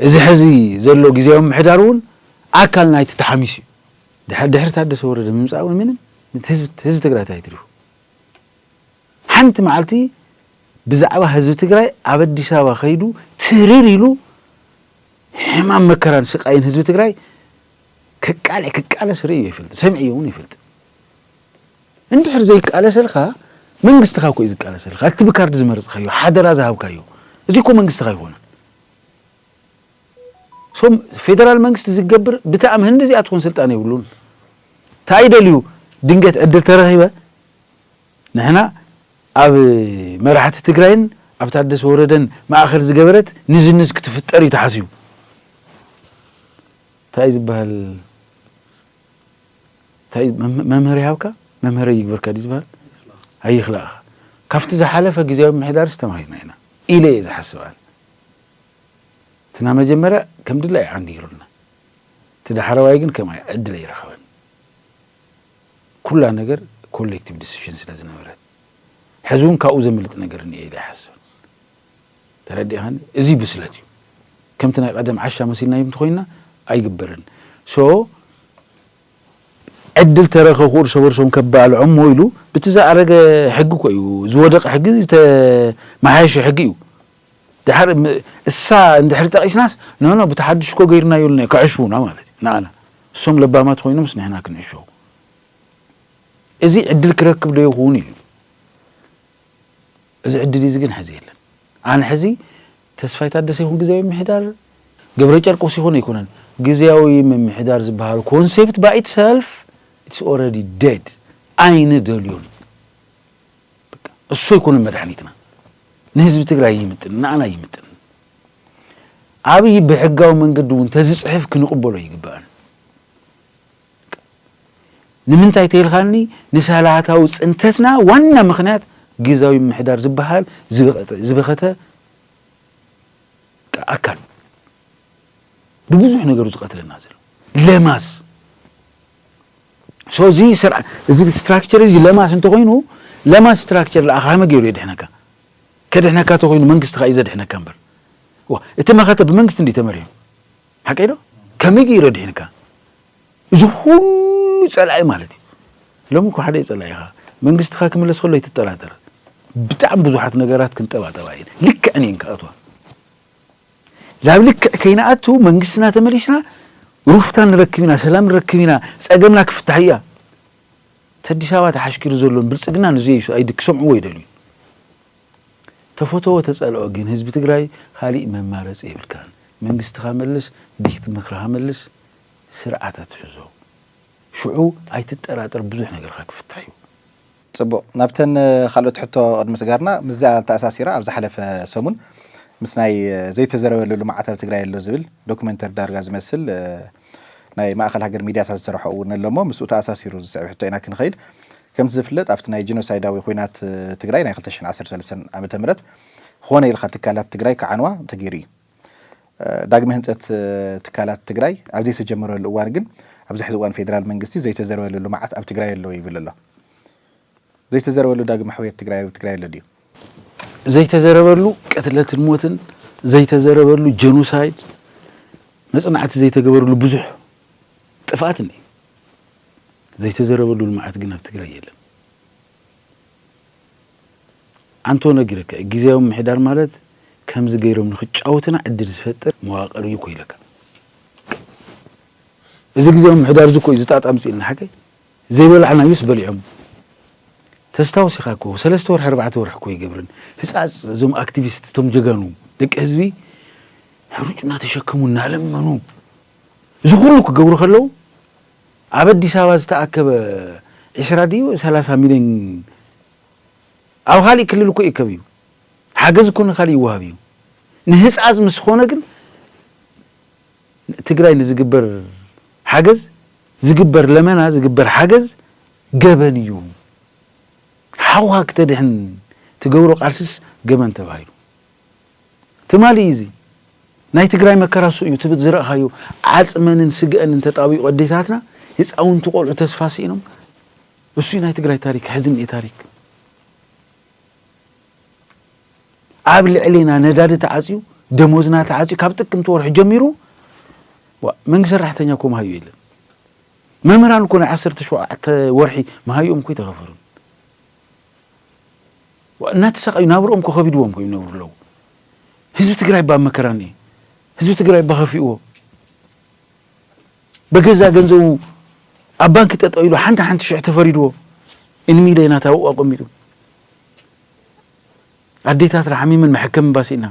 እዚ ሕዚ ዘሎ ግዝያዊ ምምሕዳር እውን ኣካል ናይቲ ተሓሚሱ እዩ። ድሕሪ ድሕሪ ታደሰ ወረደ ምምፃእ እውን ምንም እቲ ህዝቢ እቲ ህዝቢ ትግራይ እንታይ ኣትሪፉ? ሓንቲ መዓልቲ ብዛዕባ ህዝቢ ትግራይ ኣብ ኣዲስ ኣበባ ከይዱ ትርር ኢሉ ሕማም መከራን ስቃይን ህዝቢ ትግራይ ከቃልዕ ክቃለስ ርእዩ ይፈልጥ ሰምዕዮ እውን ይፈልጥ እንድሕር ዘይቃለሰልካ መንግስትኻ እኮ እዩ ዝቃለሰልካ እቲ ብካርድ ዝመረፅካዮ ሓደራ ዝሃብካዮ እዚ እኮ መንግስትኻ ኣይኮነን ሶም ፌደራል መንግስቲ ዝገብር ብታእም ህንዲ እዚኣ ትኾን ስልጣን የብሉን እንታይ ደልዩ ድንገት ዕድል ተረኺበ ንሕና ኣብ መራሕቲ ትግራይን ኣብ ታደሰ ወረደን ማእኸል ዝገበረት ንዝንዝ ክትፍጠር እዩ ተሓሲቡ ታይ ዝብሀል ታይ መምህር ይሃብካ መምህረይ ይግብርካ ድዩ ዝብሀል ኣይኽላእኻ ካፍቲ ዝሓለፈ ግዝያዊ ምምሕዳርስ ተማሂርና ኢና ኢለ እየ ዝሓስብ ኣነ እቲ ናይ መጀመርያ ከም ድላዩ ዓንዲ ገይሩልና እቲ ዳሕረዋይ ግን ከም ዕድል ኣይረኸበን ኩላ ነገር ኮሌክቲቭ ዲስሽን ስለ ዝነበረት ሕዚ እውን ካብኡ ዘምልጥ ነገር እኒኦ ኢለ ኣይሓስብን ተረዲእኻኒ እዚ ብስለት እዩ ከምቲ ናይ ቐደም ዓሻ መሲልናዮም እንተኾይንና ኣይግበርን so ዕድል ተረከኹ እርሰ በርሶም ከባልዖም እሞ ኢሉ ብቲ ዝኣረገ ሕጊ እኮ እዩ ዝወደቀ ሕጊ ዝተመሓየሸ ሕጊ እዩ ድሓር እሳ እንድሕሪ ጠቂስናስ ኖኖ ብቲ ሓዱሽ እኮ ገይርናዮ ኣለና ክዕሽዉና ማለት እዩ ንኣና እሶም ለባማት ኮይኖምስ ንሕና ክንዕሸው እዚ ዕድል ክረክብ ዶ ይኹን ኢሉ እዚ ዕድል እዚ ግን ሐዚ የለን። ኣነ ሐዚ ተስፋይ ታደሰ ይኹን ግዝያዊ ምምሕዳር፣ ገብረጨርቆስ ይኹን ኣይኮነን፣ ግዝያዊ ምምሕዳር ዝበሃል ኮንሴፕት ባይ ኢት ሰልፍ ኢትስ ኦረዲ ደድ ኣይንደልዮን በቃ እሱ ኣይኮነን መድሓኒትና ንህዝቢ ትግራይ ኣይምጥንን ንኣና ኣይምጥንን። ኣብይ ብሕጋዊ መንገዲ እውን ተዝፅሕፍ ክንቕበሎ ኣይግባእን። ንምንታይ ተይልካኒ ንሳላታዊ ፅንተትና ዋና ምክንያት ግዝያዊ ምምሕዳር ዝበሃል ዝበኸተ ኣካል ብብዙሕ ነገሩ ዝቀትለና ዘሎ ለማስ ሶ እዚ ስርዓ እዚ ስትራክቸር እዚ ለማስ እንተኾይኑ ለማስ ስትራክቸር ለኣኻ ከመይ ገይሩ የድሕነካ ከድሕነካ ተኾይኑ መንግስትኻ እዩ ዘድሕነካ እምበር እቲ መኸተ ብመንግስቲ እንዲ ተመሪሑ ሓቀይ ዶ ከመይ ገይሩ ኣድሒንካ እዚ ኩሉ ጸላኢ ማለት እዩ ሎሚ እኮ ሓደ እዩ ጸላኢኻ መንግስትኻ ክምለስ ከሎ ኣይትጠራጠር ብጣዕሚ ብዙሓት ነገራት ክንጠባጠባ እየን ልክዕን እየን ክኣትዋ ላብ ልክዕ ከይንኣቱ መንግስትና ተመሊስና ሩፍታ ንረክብ ኢና ሰላም ንረክብ ኢና ጸገምና ክፍታሕ እያ እቲ ኣዲስ ኣበባ ተሓሽኪሩ ዘሎን ብልጽግና ንዘይሱ ኣይድ ክሰምዕዎ ይደልዩ ተፈተዎ ተፀልኦ ግን ህዝቢ ትግራይ ካሊእ መማረፂ የብልካን መንግስትኻ መልስ ቤት ምክርኻ መልስ ስርዓት ኣትሕዞ ሽዑ ኣይትጠራጠር ብዙሕ ነገርኻ ክፍታሕ እዩ። ፅቡቕ ናብተን ካልኦት ሕቶ ቅድሚ ስጋርና ምስዚኣ ኣተኣሳሲራ ኣብ ዝሓለፈ ሰሙን ምስ ናይ ዘይተዘረበሉ ልምዓት ኣብ ትግራይ ኣሎ ዝብል ዶክመንተሪ ዳርጋ ዝመስል ናይ ማእኸል ሃገር ሚድያታት ዝሰርሖ እውን ኣሎ እሞ ምስኡ ተኣሳሲሩ ዝስዕብ ሕቶ ኢና ክንኸይድ። ከምቲ ዝፍለጥ ኣብቲ ናይ ጂኖሳይዳዊ ኹናት ትግራይ ናይ ክልተ ሽሕን ዓሰርተ ሰለስተን ዓመተ ምህረት ኾነ ኢልካ ትካላት ትግራይ ክዓንዋ ተገይሩ እዩ። ዳግመ ህንፀት ትካላት ትግራይ ኣብ ዘይተጀመረሉ እዋን ግን ኣብዚ ሕዚ እዋን ፌዴራል መንግስቲ ዘይተዘርበለሉ መዓት ኣብ ትግራይ ኣሎ ይብል ኣሎ። ዘይተዘረበሉ ዳግመ ሕውየት ትግራይ ኣብ ትግራይ ኣሎ ድዩ? ዘይተዘረበሉ ቅትለትን ሞትን፣ ዘይተዘረበሉ ጀኖሳይድ፣ መፅናዕቲ ዘይተገበርሉ ብዙሕ ጥፍኣት እኒሀ። ዘይተዘረበሉ ልምዓት ግን ኣብ ትግራይ የለን። ኣንቶ ነጊረካ እዩ ግዝያዊ ምምሕዳር ማለት ከምዚ ገይሮም ንክጫወቱና ዕድል ዝፈጥር መዋቅር እዩ እኮ ኢለካ። እዚ ግዝያዊ ምምሕዳር እዚ እኮ እዩ እዚ ጣጣ ኣምፂኡልና ሓቀይ ዘይበላዕናዩስ በሊዖም ተስታውስ ኢኻ እኮ ሰለስተ ወርሒ ኣርባዕተ ወርሒ እኮ ኣይገብርን ህፃፅ እዞም ኣክቲቪስት እቶም ጀጋኑ ደቂ ህዝቢ ሕሩጭ እናተሸከሙ እናለመኑ እዚ ኩሉ ክገብሩ ከለው ኣብ ኣዲስ ኣበባ ዝተኣከበ ዒስራ ድዩ ሰላሳ ሚሊዮን ኣብ ካሊእ ክልል እኮ ይእከብ እዩ ሓገዝ እኮ ንካሊእ ይወሃብ እዩ ንህፃፅ ምስ ኾነ ግን ንትግራይ ንዝግበር ሓገዝ ዝግበር ለመና ዝግበር ሓገዝ ገበን እዩ ሓውካ ክተድሕን ትገብሮ ቃልስስ ገበን ተባሂሉ ትማሊ እዩ እዚ ናይ ትግራይ መከራ እሱ እዩ ትብት ዝረእካዮ ዓፅመንን ስገኣንን ተጣቢቁ ኣዴታትና ህፃውንቲ ቆልዑ ተስፋ ሲኢኖም እሱ እዩ ናይ ትግራይ ታሪክ ሕዝኒ ታሪክ። ኣብ ልዕሊና ነዳዲ ተዓፅዩ ደሞዝና ተዓፅዩ ካብ ጥቅምቲ ወርሒ ጀሚሩ መንግስቲ ሰራሕተኛ እኮ መሃዩ የለን መምህራን እኮ ናይ ዓሰርተ ሸውዓተ ወርሒ መሃይኦም እኮ ይተኸፈሉን እናተሰቃዩ ናብርኦም እኮ ከቢድዎም ኮይኑ ይነብሩ ኣለዉ ህዝቢ ትግራይ ባ መከራ እኒኤ ህዝቢ ትግራይ ባ ከፊእዎ በገዛ ገንዘቡ ኣብ ባንኪ ጠጠው ኢሉ ሓንቲ ሓንቲ ሽሕ ተፈሪድዎ እንሚለናት ኣብኡ ኣቐሚጡ ኣዴታትና ሓሚመን መሐከሚ እባ ስኢና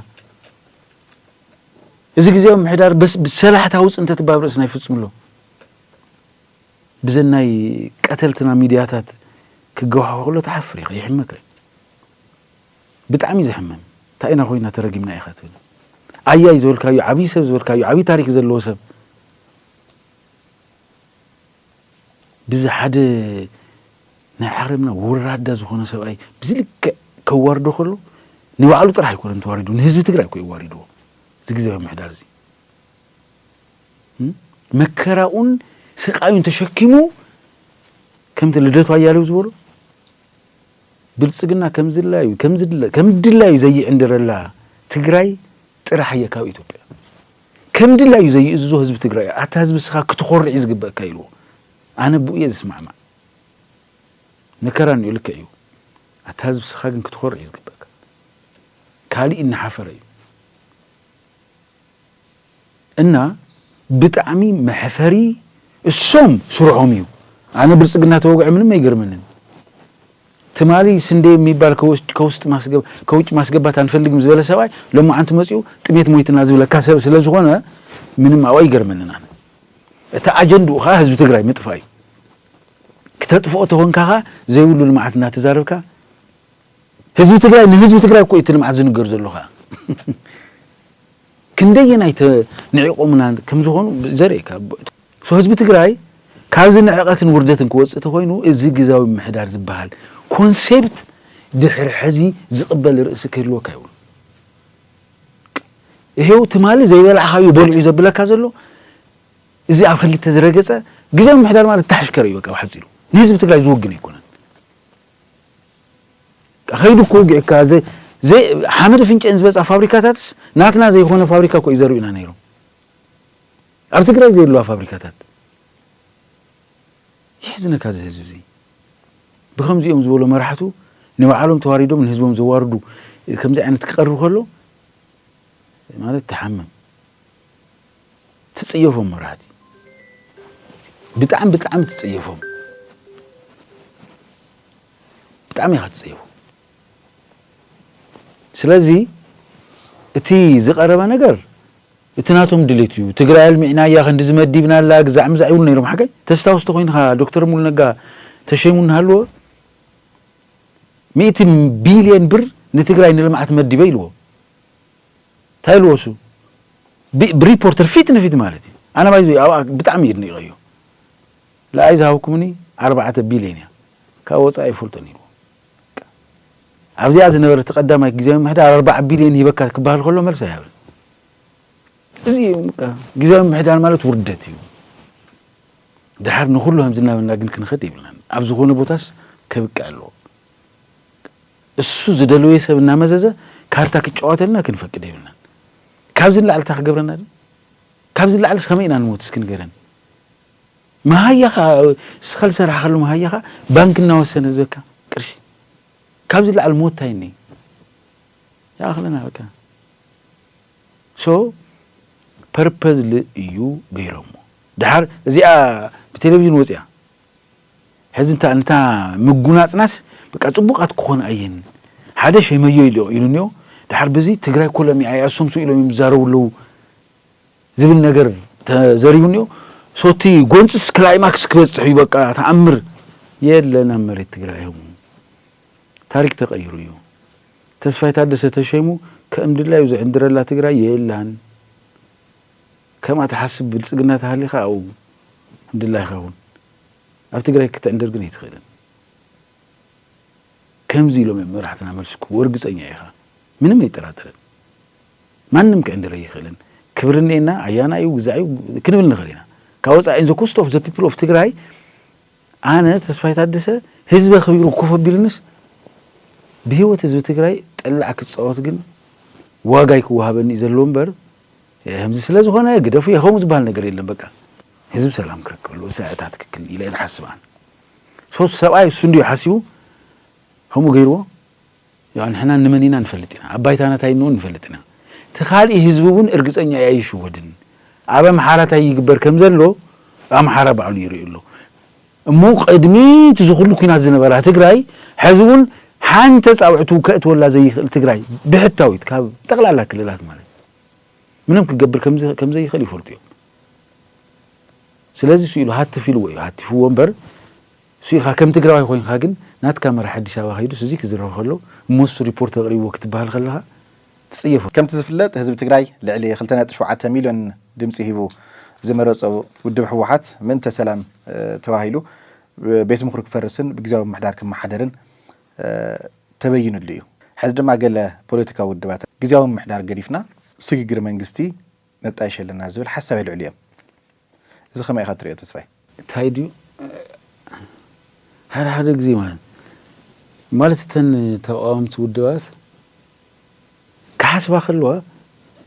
እዚ ግዜያዊ ምሕዳር በስ ብሰላሕታዊ ፅንተት እባ ኣብ ርእስና ይፍፅም ኣሎ ብዘን ናይ ቀተልትና ሚድያታት ክገዋሖ ከሎ ትሓፍር ኢኻ ይሕመካ ብጣዕሚ ዘሕመም እንታይ ኢና ኮይና ተረጊምና ኢኻ ትብል ኣያይ ዝበልካዮ ዓብዪ ሰብ ዝበልካዮ ዓብዪ ታሪክ ዘለዎ ሰብ ብዚ ሓደ ናይ ዓረምና ወራዳ ዝኾነ ሰብኣይ ብዚ ልክዕ ከዋርዶ ከሎ ንባዕሉ ጥራሕ ኣይኮነን ተዋሪዱ ንህዝቢ ትግራይ እኮ እዩ ኣዋሪድዎ እዚ ግዝያዊ ምሕዳር እዚ መከራኡን ስቃዩን ተሸኪሙ ከምቲ ልደቱ ኣያሌው ዝበሎ ብልፅግና ከምዝላዩ ከምድላዩ ዘይዕንድረላ ትግራይ ጥራሕ እየ ካብ ኢትዮጵያ ከም ድላዩ ዘይእዝዞ ህዝቢ ትግራይ እዩ ኣታ ህዝቢ እስኻ ክትኾርዕ እዩ ዝግበእካ ኢልዎ ኣነ ብኡ እየ ዝስማዕማዕ መከራ እኒኦ ልክዕ እዩ ኣታ ህዝቢ እስኻ ግን ክትኾርዕ እዩ ዝግበእካ ካሊእ እናሓፈረ እዩ እና ብጣዕሚ መሕፈሪ እሶም ስርሖም እዩ ኣነ ብልፅግና ተወግዐ ምንም ኣይገርመንን ትማሊ ስንዴ የሚባል ከውጭ ማስገባት ኣንፈልግም ዝበለ ሰብኣይ ሎማዓንቲ መፂኡ ጥሜት ሞይትና ዝብለካ ሰብ ስለዝኾነ ምንም ኣብኡ ኣይገርመንን ኣነ። እቲ ኣጀንድኡ ከዓ ህዝቢ ትግራይ ምጥፋእ እዩ። ክተጥፍኦ ተኾንካ ከዓ ዘይብሉ ልምዓት እናተዛረብካ ህዝቢ ትግራይ ንህዝቢ ትግራይ እኮ እዩ እቲ ልምዓት ዝንገር ዘሎ ከዓ። ክንደየናይ ተንዒቖሙና ከም ዝኾኑ ዘርእየካ ብ። So ህዝቢ ትግራይ ካብዚ ንዕቐትን ውርደትን ክወፅእ ተኾይኑ እዚ ግዝያዊ ምምሕዳር ዝብሃል Concept ድሕሪ ሕዚ ዝቕበል ርእሲ ክህልወካ የብሉን። ይሄው ትማሊ ዘይበላዕኻዮ በሊዑ እዩ ዘብለካ ዘሎ። እዚ ኣብ ኽልተ ዝረገፀ ግዝያዊ ምምሕዳር ማለት ተሓሽከር እዩ በቃ ብሓፂሩ። ንህዝቢ ትግራይ ዝውግን ኣይኮነን። ከይዱ እኮ ውጊዕካ ዘይ ዘይ ሓመድ ፍንጨን ዝበፅኣ ፋብሪካታትስ ናትና ዘይኮነ ፋብሪካ እኮ ይዘርኡና ነይሮም ኣብ ትግራይ ዘየለዋ ፋብሪካታት የሕዝነካ እዚ ህዝቢ እዚ ብከምዚኦም ዝበሉ መራሕቱ ንባዕሎም ተዋሪዶም ንህዝቦም ዘዋርዱ ከምዚ ዓይነት ክቀርብ ከሎ ማለት ተሓምም ትጽየፎም መራህቲ ብጣዕሚ ብጣዕሚ ትጽየፎም ብጣዕሚ ኢኻ ትጽየፎም ስለዚ እቲ ዝቐረበ ነገር እቲ ናቶም ድሌት እዩ ትግራይ ኣልሚዕና እያ ክንዲ ዝመዲብና ኣላ ግዛዕ ምዛዕ ይብሉ ነይሮም ሓቀይ ተስታውስ ተኮይንካ ዶክተር ሙሉ ነጋ ተሸይሙ እናሃለዎ ሚእቲ ቢልየን ብር ንትግራይ ንልምዓት መዲበ ኢልዎ ታይ ልወሱ ብሪፖርተር ፊት ንፊት ማለት እዩ ኣነ ባይዘወይ ኣብኣ ብጣዕሚ የድኒቀዮ ልኣይ ዝሃብኩምኒ ኣርባዕተ ቢልዮን እያ ካብ ወፃኢ ኣይፈልጦን ኢልዎ ኣብዚኣ ዝነበረ እቲ ቀዳማይ ግዜያዊ ምሕዳር ኣርባዓ ቢልዮን ሂበካ ክበሃል ከሎ መልሲ ኣይሃብን እዚ እዩ ግዜያዊ ምሕዳር ማለት ውርደት እዩ ድሓር ንኩሉ ከምዚ እናበልና ግን ክንኸድ የብልናን ኣብ ዝኾነ ቦታስ ከብቅዕ ኣለዎ እሱ ዝደለዎ ሰብ እናመዘዘ ካርታ ክጫወተልና ክንፈቅድ የብልናን። ካብዚ ንላዕሊ እንታይ ክገብረና ድዩ? ካብዚ ንላዕልስ ከመይ ኢና ንሞት እስኪ ንገረኒ? መሃያ ከኣ እስኻ ዝሰራሕኻሉ መሃያ ከኣ ባንኪ እናወሰነ ዝበካ ቅርሺ። ካብዚ ንላዕሊ ሞት እንታይ እኒሀ? ይኣኽለና በቃ። ሶ ፐርፐዝሊ እዩ ገይሮሞ። ደሓር እዚኣ ብቴሌቭዥን ወጺኣ ሕዚ እንታ ነታ ምጉናጽናስ በቃ ጽቡቃት ክኾና እየን ሓደ ሸመዮ ኢሉ እንዮ ድሓር ብዚ ትግራይ ኮሎም እያ እያ እሶም ስኡ ኢሎም እዮም ዝዛረቡ ኣለዉ ዝብል ነገር ተዘሪቡ እንዮ ሶ እቲ ጎንጽስ ክላይማክስ ክበጽሕ እዩ በቃ ተኣምር የለን ኣብ መሬት ትግራይ እዮሙ ታሪክ ተቀይሩ እዩ ተስፋይ ታደሰ ተሸይሙ ከእም ድላዩ ዝዕንድረላ ትግራይ የላን። ከምኣ ትሓስብ ብልፅግና ተሃሊኻ ኣብኡ ከምድላይኻ ኩን ኣብ ትግራይ ክትዕንድር ግን ኣይትኽእልን ከምዚ ኢሎም እዮም መራሕትና መልሲ ክህቡ እርግፀኛ ኢኻ ምንም ኣይጠራጠርን ማንም ክዕንድር ኣይኽእልን ክብሪ እኔና ኣያና እዩ ግዛዕ እዩ ክንብል ንኽእል ኢና ካብ ወፃኢ ዘ ኮስት ኦፍ ዘ ፒፕል ኦፍ ትግራይ ኣነ ተስፋይ ታደሰ ህዝበ ክቢሩ ኮፍ ኣቢልንስ ብህይወት ህዝቢ ትግራይ ጠላዕ ክፃወት ግን ዋጋ ይክወሃበኒ እዩ ዘለዎ እምበር ከምዚ ስለ ዝኾነ ግደፉ የኸሙ ዝበሃል ነገር የለን በቃ። ህዝቢ ሰላም ክረክበሉ እሳ እታ ትክክል ኢለ ዝሓስብ ኣነ ሶ እቲ ሰብኣይ እሱ እንድዩ ሓሲቡ ከምኡ ገይርዎ ያው ንሕና ንመን ኢና ንፈልጥ ኢና ኣብ ባይታና እንታይ እንውን ንፈልጥ ኢና እቲ ካልእ ህዝቢ እውን እርግፀኛ እያ ይሽወድን ኣብ ኣምሓራ እንታይ ይግበር ከም ዘሎ ኣምሓራ ባዕሉ ይርኢ ኣሎ እሞ ቅድሚ እቲ ዝኹሉ ኩናት ዝነበራ ትግራይ ሕዚ እውን ሓንቲ ፃውዕቱ ከእትወላ ዘይኽእል ትግራይ ብሕታዊት ካብ ጠቕላላ ክልላት ማለት ምንም ክገብር ከም ዘይኽእል ይፈልጡ እዮም። ስለዚ ስኢሉ ሃትፍ ኢልዎ እዩ። ሃቲፍዎ እምበር ስኢልካ ከም ትግራዋይ ኮይንካ ግን ናትካ መራሒ ኣዲስ ኣበባ ከይዱስ እዚ ክዝረብ ከሎ እሞሱ ሪፖርት ኣቕሪብዎ ክትበሃል ከለኻ ትጽየፎ። ከምቲ ዝፍለጥ ህዝቢ ትግራይ ልዕሊ ክልተ ነጥቢ ሸውዓተ ሚልዮን ድምጺ ሂቡ ዝመረጾ ውድብ ህወሓት ምእንተ ሰላም ተባሂሉ ቤት ምኽሩ ክፈርስን ብግዝያዊ ምምሕዳር ክመሓደርን ተበይንሉ እዩ። ሕዚ ድማ ገለ ፖለቲካዊ ውድባት ግዝያዊ ምምሕዳር ገዲፍና ስግግር መንግስቲ ነጣይሽ ኣለና ዝብል ሓሳብ የልዕሉ እዮም። እዚ ከመይ ኢኻ ትሪኦ ተስፋይ? እንታይ ድዩ ሓደ ሓደ ግዜ ማለት ማለት እተን ተቓወምቲ ውድባት ክሓስባ ከለዋ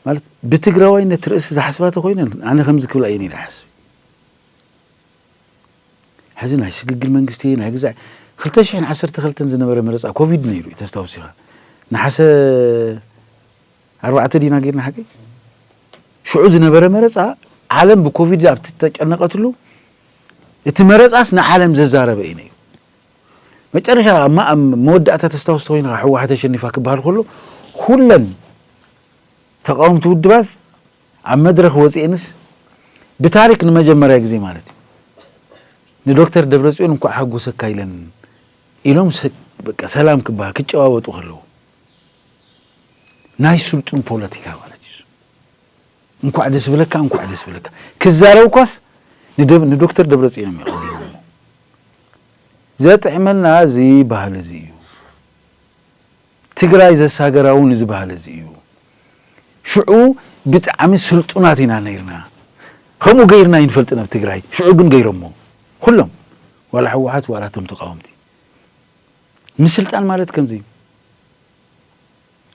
ማለት ብትግራዋይነት ርእሲ ዝሓስባ ተኮይነን ኣነ ከምዚ ክብላ እየን ኢለ ይሓስብ ሕዚ ናይ ሽግግር መንግስቲ ናይ ግዛዕ ክልተ ሽሕን ዓሰርተ ክልተን ዝነበረ መረፃ ኮቪድ ነይሩ እዩ ተስታውስ ኢኻ ነሓሰ ኣርባዕተ ዲና ጌርና ሓቀይ ሽዑ ዝነበረ መረፃ ዓለም ብኮቪድ ኣብ ተጨነቀትሉ እቲ መረፃስ ንዓለም ዘዛረበ እዩ ነይሩ መጨረሻ ኣብ መወዳእታ ተስታውስ ተኮይንካ ሕወሓት ኣሸኒፋ ክበሃል ከሎ ኩለን ተቃወምቲ ውድባት ኣብ መድረኽ ወጺኤንስ ብታሪክ ንመጀመርያ ግዜ ማለት እዩ ንዶክተር ደብረጽዮን እንኳዕ ሓጎሰካ ኢለን ኢሎም ሰላም ክበሃ ክጨባበጡ ከለዉ ናይ ስልጡን ፖለቲካ ማለት እዩ። እንኳዕ ደስ ብለካ እንኳዕ ደስ ብለካ ክዛረብ እኳስ ንዶክተር ደብረጽዮን እዮም የቐዲሞሞ። ዘጥዕመና እዚ ባህሊ እዚ እዩ። ትግራይ ዘሳገራ እውን እዚ ባህሊ እዚ እዩ። ሽዑ ብጣዕሚ ስልጡናት ኢና ነይርና። ከምኡ ገይርና ኣይንፈልጥን ኣብ ትግራይ። ሽዑ ግን ገይሮሞ ኹሎም ዋላ ህወሓት ዋላ እቶም ተቓወምቲ። ምስልጣን ማለት ከምዚ እዩ።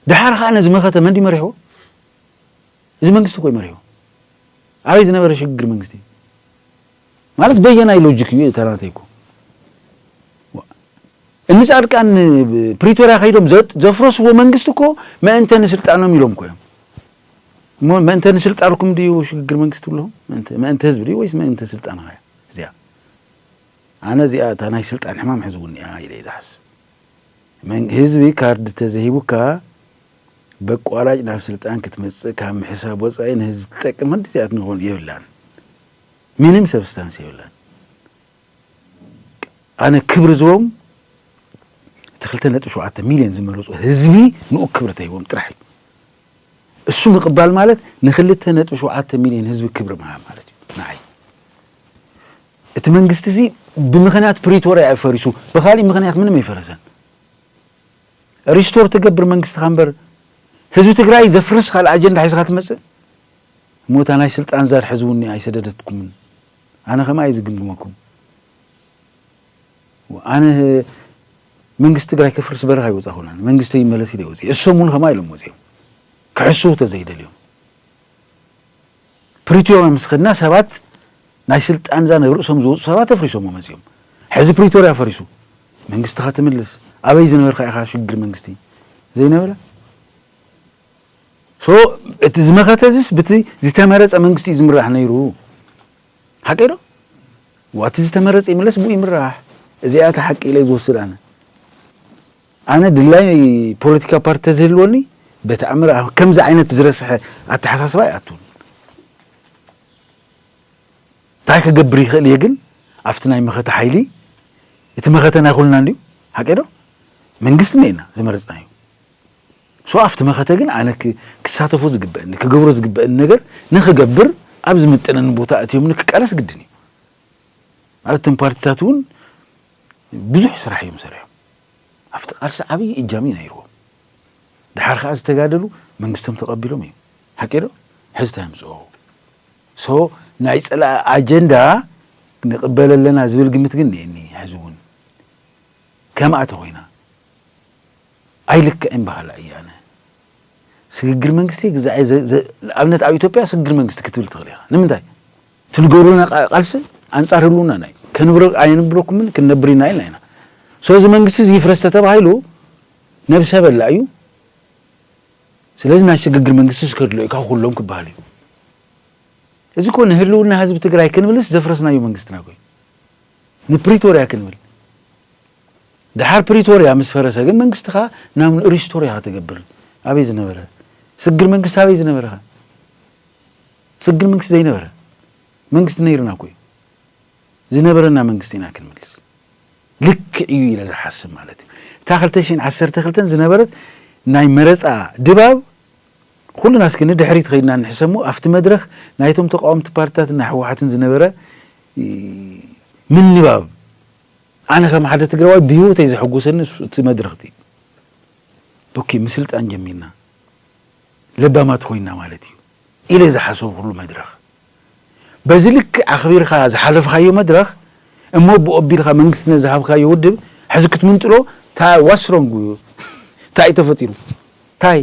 ደሓር ኸዓ ነዚ መኸተ መን ድዩ መሪሕዎ? እዚ መንግስቲ እኮ እዩ መሪሕዎ። ኣበይ ዝነበረ ሽግግር መንግስቲ እዩ? ማለት በየናይ ሎጂክ እዩ ተናተይኩ እኒ ጻድቃን ፕሪቶሪያ ከይዶም ዘፍረስዎ መንግስቲ እኮ መእንተ ንስልጣኖም ኢሎም እኮ እዮም። መእንተ ንስልጣንኩም ድዩ ሽግግር መንግስቲ ብለኹም መእንተ ህዝቢ ድዩ ወይስ መእንተ ስልጣን ኸያ እዚኣ ኣነ እዚኣ እታ ናይ ስልጣን ሕማም ሕዝውን እያ ኢለ ዝሓስብ ህዝቢ ካርድ ተዘሂቡካ በቋራጭ ናብ ስልጣን ክትመፅእ ካብ ምሕሳብ ወፃኢ ንህዝቢ ትጠቅም ክንዲ እዚኣ ትንኾን የብላን ምንም ሰብስታንስ የብላን ኣነ ክብሪ ዝቦም እቲ ክልተ ነጥቢ ሸውዓተ ሚልዮን ዝመረፁ ህዝቢ ንኡ ክብሪ ተሂቦም ጥራሕ እዩ እሱ ምቕባል ማለት ንክልተ ነጥቢ ሸውዓተ ሚልዮን ህዝቢ ክብሪ ምሃብ ማለት እዩ ንዓይ እቲ መንግስቲ እዚ ብምክንያት ፕሪቶሪያ እዩ ፈሪሱ ብካሊእ ምክንያት ምንም ኣይፈረሰን ሪስቶር ትገብር መንግስትኻ እምበር ህዝቢ ትግራይ ዘፍርስ ካልእ ኣጀንዳ ሒዝካ ትመፅእ እሞ እታ ናይ ስልጣን ዛር ሕዚ ውን ኣይሰደደትኩምን ኣነ ከምኣ እየ ዝግምግመኩም ኣነ መንግስቲ ትግራይ ከፍርስ በረኻ ይወፃኹን ኣነ መንግስተይ ይመለስ ኢለ ወፂ እሶም ውን ከምኣ ኢሎም ወፂኦም ክሕስው ተዘይደልዮም ፕሪቶሪያ ምስ ኸድና ሰባት ናይ ስልጣን ዛር ናብ ርእሶም ዝወፁ ሰባት ኣፍሪሶሞ መፂኦም ሕዚ ፕሪቶሪያ ፈሪሱ መንግስትኻ ትምልስ ኣበይ ዝነበርካ ኢኻ ሽግግር መንግስቲ ዘይነበረ So እቲ ዝመኸተ እዚስ ብቲ ዝተመረፀ መንግስቲ እዩ ዝምራሕ ነይሩ ሓቀይ ዶ? እዋ እቲ ዝተመረፀ ይምለስ ብኡ ይምራሕ እዚኣ እያ እታ ሓቂ ኢለ ዝወስድ ኣነ ኣነ ድላይ ፖለቲካ ፓርቲ ተዝህልወኒ በተኣምር ኣብ ከምዚ ዓይነት ዝረስሐ ኣተሓሳስባ ኣይኣቱን እንታይ ክገብር ይኽእል እየ ግን ኣብቲ ናይ መኸተ ሓይሊ እቲ መኸተ ናይ ኩልና እንድዩ ሓቀይ ዶ መንግስቲ እኒኤና ዝመረፅናዩ So ኣብቲ መኸተ ግን ኣነ ክሳተፎ ዝግበእኒ፣ ክገብሮ ዝግበእኒ ነገር ንክገብር ኣብ ዝምጥነኒ ቦታ ኣእትዮምኒ ክቃለስ ግድን እዩ። ማለት እቶም ፓርቲታት እውን ብዙሕ ስራሕ እዮም ሰሪሖም። ኣብቲ ቃልሲ ዓብዪ እጃም እዩ ነይርዎም። ድሓር ከዓ ዝተጋደሉ መንግስቶም ተቐቢሎም እዮም። ሓቂ ዶ? ሕዚ እንታይ ኣምፅኦ? So ናይ ፀላኢ ኣጀንዳ ንቕበል ኣለና ዝብል ግምት ግን እኒኤኒ ሕዚ እውን ከምኣ ተኾይና። ኣይልክዕን በሃላይ እየ ኣነ። ስግግር መንግስቲ ግዛዔ ዘ ዘ ንኣብነት ኣብ ኢትዮጵያ ስግግር መንግስቲ ክትብል ትኽእል ኢኻ። ንምንታይ? እቲ ዝገብሩልና ቃ ቃልሲ ኣንጻር ህልውናና እዩ። ከንብረ ኣየንብረኩምን ክንነብር ኢና ኢልና ኢና። ሶ እዚ መንግስቲ እዚ ይፍረስ ተተባሂሉ ነብሰ በላ እዩ። ስለዚ ናይ ስግግር መንግስቲስ ከድሎ እዩ ካብ ኩሎም ክበሃል እዩ። እዚ እኮ ንህልውና ህዝቢ ትግራይ ክንብልስ ዘፍረስናዮ መንግስትና እኮ እዩ። ንፕሪቶርያ ክንብል። ድሓር ፕሪቶርያ ምስ ፈረሰ ግን መንግስትኻ ናብ ን ሪስቶር ኢኻ ትገብር ኣበይ ዝነበረ ስግግር መንግስቲ ኣበይ ዝነበረኻ ስግግር መንግስቲ ዘይነበረ መንግስቲ ነይሩና እኮ እዩ ዝነበረና መንግስቲ ኢና ክንምልስ ልክዕ እዩ ኢለ ዝሓስብ ማለት እዩ እታ ክልተ ሽሕን ዓሰርተ ክልተን ዝነበረት ናይ መረፃ ድባብ ኩሉና እስኪ ንድሕሪት ኸይድና ንሕሰሙ ኣብቲ መድረኽ ናይቶም ተቃወምቲ ፓርትታትና ህወሓትን ዝነበረ ምንባብ ኣነ ከም ሓደ ትግራዋይ ብሂወተይ ዘሕጉሰኒ እቲ መድረኽ እቲ እዩ ኦኬ ምስልጣን ጀሚርና ለባማት ኮይና ማለት እዩ ኢለ ዝሓሰብኩሉ መድረኽ በዚ ልክዕ ኣኽቢርካ ዝሓለፍኻዮ መድረኽ እሞ ብኡ ኣቢልካ መንግስቲ ነዝሃብካዮ ውድብ ሕዚ ክትምንጥሎ ታይ ዋስ ሮንግ ዩ ታይ እዩ ተፈጢሩ ታይ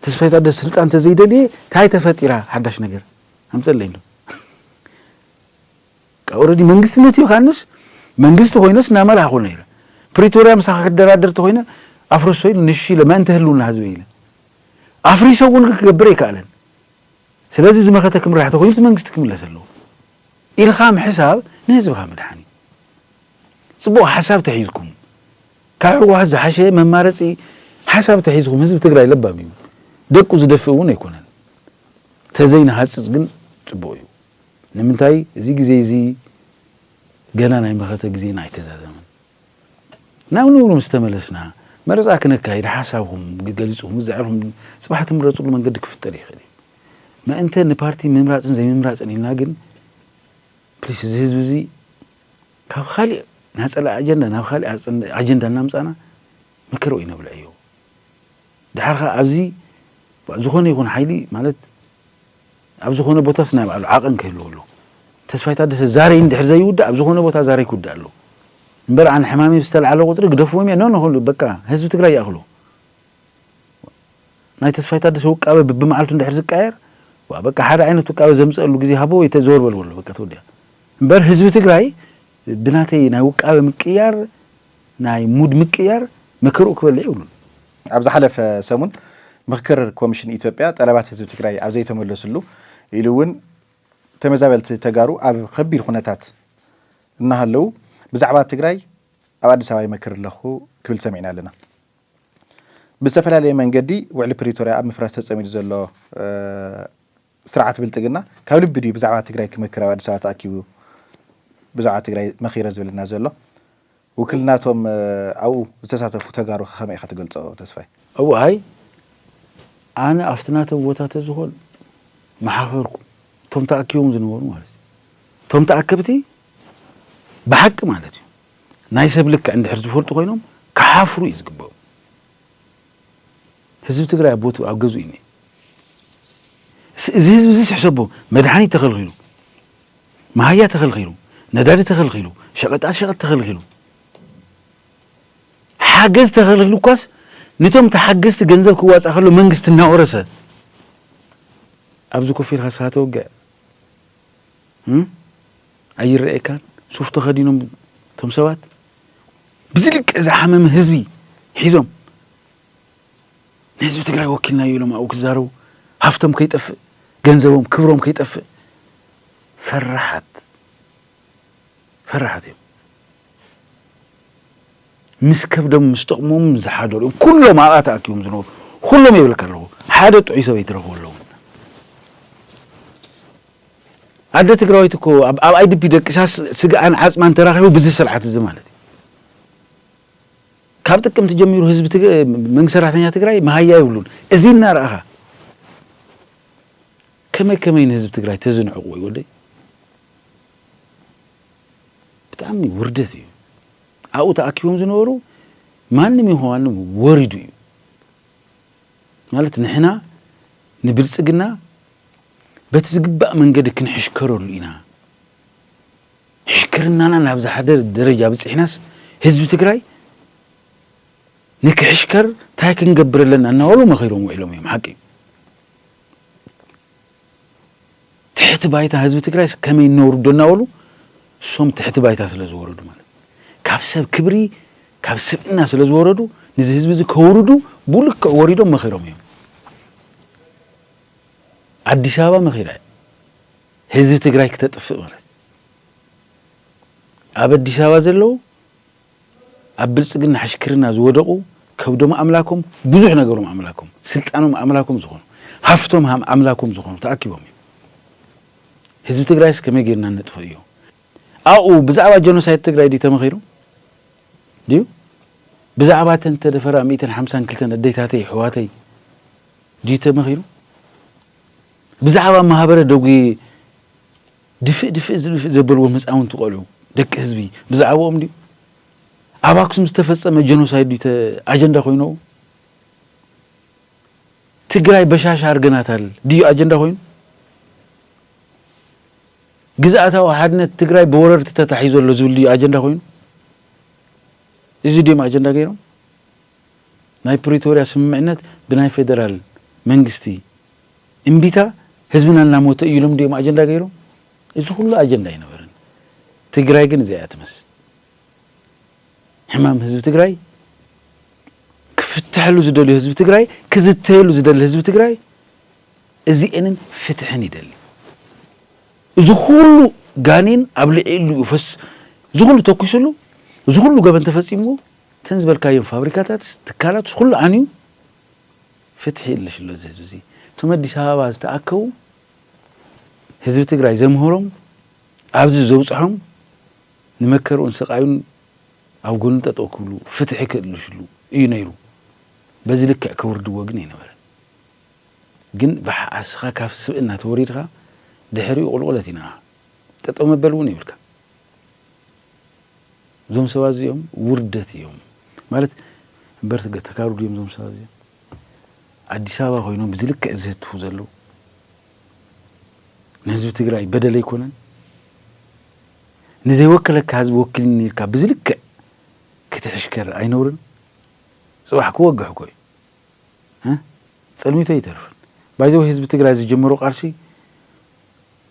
ተስፋይ ታደሰ ስልጣን ተዘይደልየ ታይ ተፈጢራ ሓዳሽ ነገር ኣምፀለይ እንዶ ኦረዲ መንግስትነት ዮሃንስ መንግስቲ ኮይነስ እናመራሕኹ ነይረ ፕሪቶርያ ምሳኻ ክደራደር ተኾይነ ኣፍርሶ ኢሉ ንሽ ኢለ ምእንተ ህልውና ህዝበይ ኢለ ኣፍሪሰ እውን ግን ክገብር ኣይከኣለን ስለዚ ዝመኸተ ክምራሕ ተኾይኑ እቲ መንግስቲ ክምለስ ኣለዎ ኢልኻ ምሕሳብ ንህዝብኻ ምድሓን እዩ ፅቡቅ ሓሳብ ተሒዝኩም ካብ ህወሓት ዝሓሸ መማረፂ ሓሳብ ተሒዝኩም ህዝቢ ትግራይ ለባም እዩ ደቁ ዝደፍእ እውን ኣይኮነን ተዘይንሃፅፅ ግን ፅቡቅ እዩ ንምንታይ እዚ ግዜ እዚ ገና ናይ መኸተ ግዜና ኣይተዛዘመን። ናብ ንቡር ምስ ተመለስና መረጻ ክነካይድ ሓሳብኹም ገሊጽኹም ግዛዕርኹም ጽባሕ ትምረጽሉ መንገዲ ክፍጠር ይኽእል እዩ። መእንተ ንፓርቲ ምምራጽን ዘይምምራጽን ኢልና ግን ፕሊስ እዚ ህዝቢ እዚ ካብ ኻሊእ ናጸላ ኣጀንዳ ናብ ኻሊእ ኣጀንዳ እናምጻና መከራ ኣይነብልዐዮ። ደሓር ኸኣ ኣብዚ ዝኾነ ይኹን ሓይሊ ማለት ኣብ ዝኾነ ቦታስ ናይ ባዕሉ ዓቐን ክህልዎ ኣለዎ። ተስፋይ ታደሰ ዛሬ እንድሕር ዘይውዳእ ኣብ ዝኾነ ቦታ ዛሬ ክውዳእ ኣለዎ። እምበር ኣነ ሕማመይ ብዝተልዓለ ቁፅሪ ግደፍዎም እየ ን ን ን በቃ ህዝቢ ትግራይ ይኣኽሎ። ናይ ተስፋይ ታደሰ ውቃበ ብብመዓልቱ እንድሕር ዝቀያየር ዋእ በቃ ሓደ ዓይነት ውቃበ ዘምፀእሉ ግዜ ሃቦ ወይ ተ ዘወር በል በሎ በቃ ተወዲኣ። እምበር ህዝቢ ትግራይ ብናተይ ናይ ውቃበ ምቅያር ናይ ሙድ ምቅያር መከርኡ ክበልዕ የብሉን። ኣብ ዝሓለፈ ሰሙን ምኽክር ኮሚሽን ኢትዮጵያ ጠለባት ህዝቢ ትግራይ ኣብ ዘይተመለስሉ ኢሉ እውን ተመዛበልቲ ተጋሩ ኣብ ኸቢድ ኹነታት እናሃለው ብዛዕባ ትግራይ ኣብ ኣዲስ ኣበባ ይመክር ኣለኹ ክብል ሰሚዕና ኣለና። ብዝተፈላለየ መንገዲ ውዕሊ ፕሪቶርያ ኣብ ምፍራስ ተፀሚዱ ዘሎ ስርዓት ብልፅግና ካብ ልቢ ድዩ ብዛዕባ ትግራይ ክመክር ኣብ ኣዲስ ኣበባ ተኣኪቡ ብዛዕባ ትግራይ መኺረ ዝብለና ዘሎ? ውክልና እቶም ኣብኡ ዝተሳተፉ ተጋሩ ከ ከመይ ኢኻ ትገልፆ ተስፋይ? እው ኣይ ኣነ ኣብቲ ናተይ ቦታ ተዝኾን ምሓኸርኩ እቶም ተኣኪቦም ዝነበሩ ማለት እዩ እቶም ተኣከብቲ ብሓቂ ማለት እዩ ናይ ሰብ ልክዕ እንድሕር ዝፈልጡ ኮይኖም ክሓፍሩ እዩ ዝግበኦም ህዝቢ ትግራይ ኣብ ቦትኡ ኣብ ገዝኡ እዩ እኒሀ። እስ እዚ ህዝቢ እዚስ ሕሰቦ መድሓኒት ተኸልኺሉ፣ መሃያ ተኸልኺሉ፣ ነዳዲ ተኸልኺሉ፣ ሸቐጣት ሸቐጥ ተኸልኺሉ፣ ሓገዝ ተኸልኺሉ እኳስ ንቶም ተሓገዝቲ ገንዘብ ክዋፃእ ከሎ መንግስቲ እናወረሰ ኣብዚ ኮፍ ኢልካ ስኻ ተወግዕ እም? ኣይረኣየካን ሱፍ ተኸዲኖም እቶም ሰባት ብዝልክዕ ዝሓመመ ህዝቢ ሒዞም ንህዝቢ ትግራይ ወኪልናዮ ኢሎም ኣብኡ ክዛረቡ ሃፍቶም ከይጠፍእ ገንዘቦም ክብሮም ከይጠፍእ ፈራሓት ፈራሓት እዮም ምስ ከብዶም ምስ ጥቕሞም ዝሓደሩ እዮም ኩሎም ኣብኣ ተኣኪቦም ዝነበሩ ኩሎም የብለካ ኣለኹ ሓደ ጥዑይ ሰብ ኣይትረኽቡ ኣለዉ ኣደ ትግራዊት እኮ ኣብ ኣይድፒ ደቂሳ ስግኣን ዓፅማን ተራኺቡ ብዚ ስርዓት እዚ ማለት እዩ ካብ ጥቅምቲ ጀሚሩ ህዝቢ መንግስቲ ሰራሕተኛ ትግራይ መሃያ የብሉን እዚ እናረኣኻ ከመይ ከመይ ንህዝቢ ትግራይ ተዝንዕቕ ወይ ወደይ ብጣዕሚ ውርደት እዩ ኣብኡ ተኣኪቦም ዝነበሩ ማንም ይኹን ማንም ወሪዱ እዩ ማለት ንሕና ንብልፅግና በቲ ዝግባእ መንገዲ ክንሕሽከረሉ ኢና ሕሽክርናና ናብ ዝሓደር ደረጃ ኣብፂሕናስ ህዝቢ ትግራይ ንክሕሽከር ታይ ክንገብር ኣለና እናበሉ መኺሮም ውዒሎም እዮም ሓቂ እዩ ትሕቲ ባይታ ህዝቢ ትግራይስ ከመይ ነውርዶ እናበሉ እሶም ትሕቲ ባይታ ስለ ዝወረዱ ማለት ካብ ሰብ ክብሪ ካብ ስብእና ስለ ዝወረዱ ንዚ ህዝቢ እዚ ከውርዱ ብልክዕ ወሪዶም መኺሮም እዮም ኣዲስ ኣበባ መኺራ እያ ህዝቢ ትግራይ ክተጥፍእ ማለት ኣብ ኣዲስ ኣበባ ዘለዉ ኣብ ብልፅግና ሕሽክርና ዝወደቑ ከብዶም ኣምላኮም ብዙሕ ነገሮም ኣምላኮም ስልጣኖም ኣምላኮም ዝኾኑ ሃፍቶም ኣምላኮም ዝኾኑ ተኣኪቦም እዮም ህዝቢ ትግራይስ ከመይ ጌርና ነጥፎ እዩ ኣብኡ ብዛዕባ ጀኖሳይድ ትግራይ ድዩ ተመኺሩ ድዩ ብዛዕባ እተን ተደፈራ ሚእትን ሓምሳን ክልተን ኣዴታተይ ኣሕዋተይ ድዩ ተመኺሩ ብዛዕባ ማህበረ ደጉዬ ድፍእ ድፍእ ዝብፍእ ዘበልዎም ህፃውንቲ ቆልዑ ደቂ ህዝቢ ብዛዕብኦም ድዩ? ኣብ ኣክሱም ዝተፈፀመ ጀኖሳይድ ድዩ ተ ኣጀንዳ ኮይኖው? ትግራይ በሻሻ ኣርገናታል ድዩ ኣጀንዳ ኮይኑ? ግዝኣታዊ ሓድነት ትግራይ ብወረርቲ ተታሒዞ ኣሎ ዝብል ድዩ ኣጀንዳ ኮይኑ? እዚ ድዮም ኣጀንዳ ገይሮም? ናይ ፕሪቶርያ ስምምዕነት ብናይ ፌደራል መንግስቲ እምቢታ ህዝብና እናሞተ እዩ ኢሎም ድዮም ኣጀንዳ ገይሮም? እዚ ኩሉ ኣጀንዳ ኣይነበረን። ትግራይ ግን እዚኣ እያ ትመስ ሕማም ህዝቢ ትግራይ ክፍተሐሉ ዝደልዮ ህዝቢ ትግራይ ክዝተየሉ ዝደሊ ህዝቢ ትግራይ እዚኤንን ፍትሕን ይደሊ እዚ ኩሉ ጋኔን ኣብ ልዕሉ እዩ ፈስ እዚ ኩሉ ተኩስሉ እዚ ኩሉ ገበን ተፈፂምዎ እተን ዝበልካየን ፋብሪካታትስ ትካላትስ ኩሉ ዓንዩ ፍትሒ የለሽሎ እዚ ህዝቢ እዚ እቶም ኣዲስ ኣበባ ዝተኣከቡ ህዝቢ ትግራይ ዘምህሮም ኣብዚ ዘብፅሖም ንመከርኡን ስቃዩን ኣብ ጎኑ ጠጠው ክብሉ ፍትሒ ክእልሽሉ እዩ ነይሩ በዚ ልክዕ ከውርድዎ ግን ኣይነበረን ግን ብሓኣስኻ ካብ ስብእና ተወሪድኻ ድሕሪኡ ቁልቁለት ኢና ጠጠው መበል እውን የብልካ እዞም ሰባት እዚኦም ውርደት እዮም ማለት እምበር ተጋሩ ድዮም እዞም ሰባት እዚኦም ኣዲስ ኣበባ ኮይኖም ብዚ ልክዕ ዝህትፉ ዘለዉ ንህዝቢ ትግራይ በደል ኣይኮነን ንዘይወከለካ ህዝቢ ወኪልኒ ኢልካ ብዚ ልክዕ ክትሕሽከር ኣይነውርን ፅባሕ ክወግሕ እኮ እዩ እ? ፀልሚቶ ኣይተርፍን ባይዘወይ ህዝቢ ትግራይ ዝጀመሮ ቃልሲ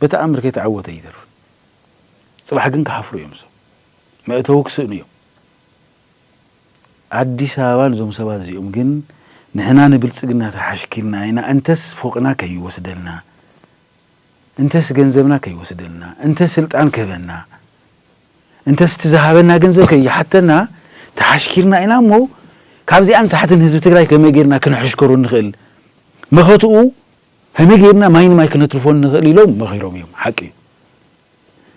ብተኣምር ከይተዓወተ ኣይተርፍን ጽባሕ ግን ክሓፍሩ እዮም እዞም መእተዊ ክስእኑ እዮም ኣዲስ ኣበባ ንዞም ሰባት እዚኦም ግን ንሕና ንብልጽግና ተሓሽኪልና ኢና እንተስ ፎቅና ከይወስደልና እንተስ ገንዘብና ከይወስደልና እንተስ ስልጣን ክህበና እንተስ እቲ ዝሃበና ገንዘብ ከይሓተና ተሓሽኪርና ኢና እሞ ካብዚኣን ታሕትን ህዝቢ ትግራይ ከመይ ጌርና ክንሕሽከሩ ንኽእል መኸትኡ ከመይ ገይርና ማይ ንማይ ክነትርፎ ንኽእል ኢሎም መኺሮም እዮም፣ ሓቂ እዩ።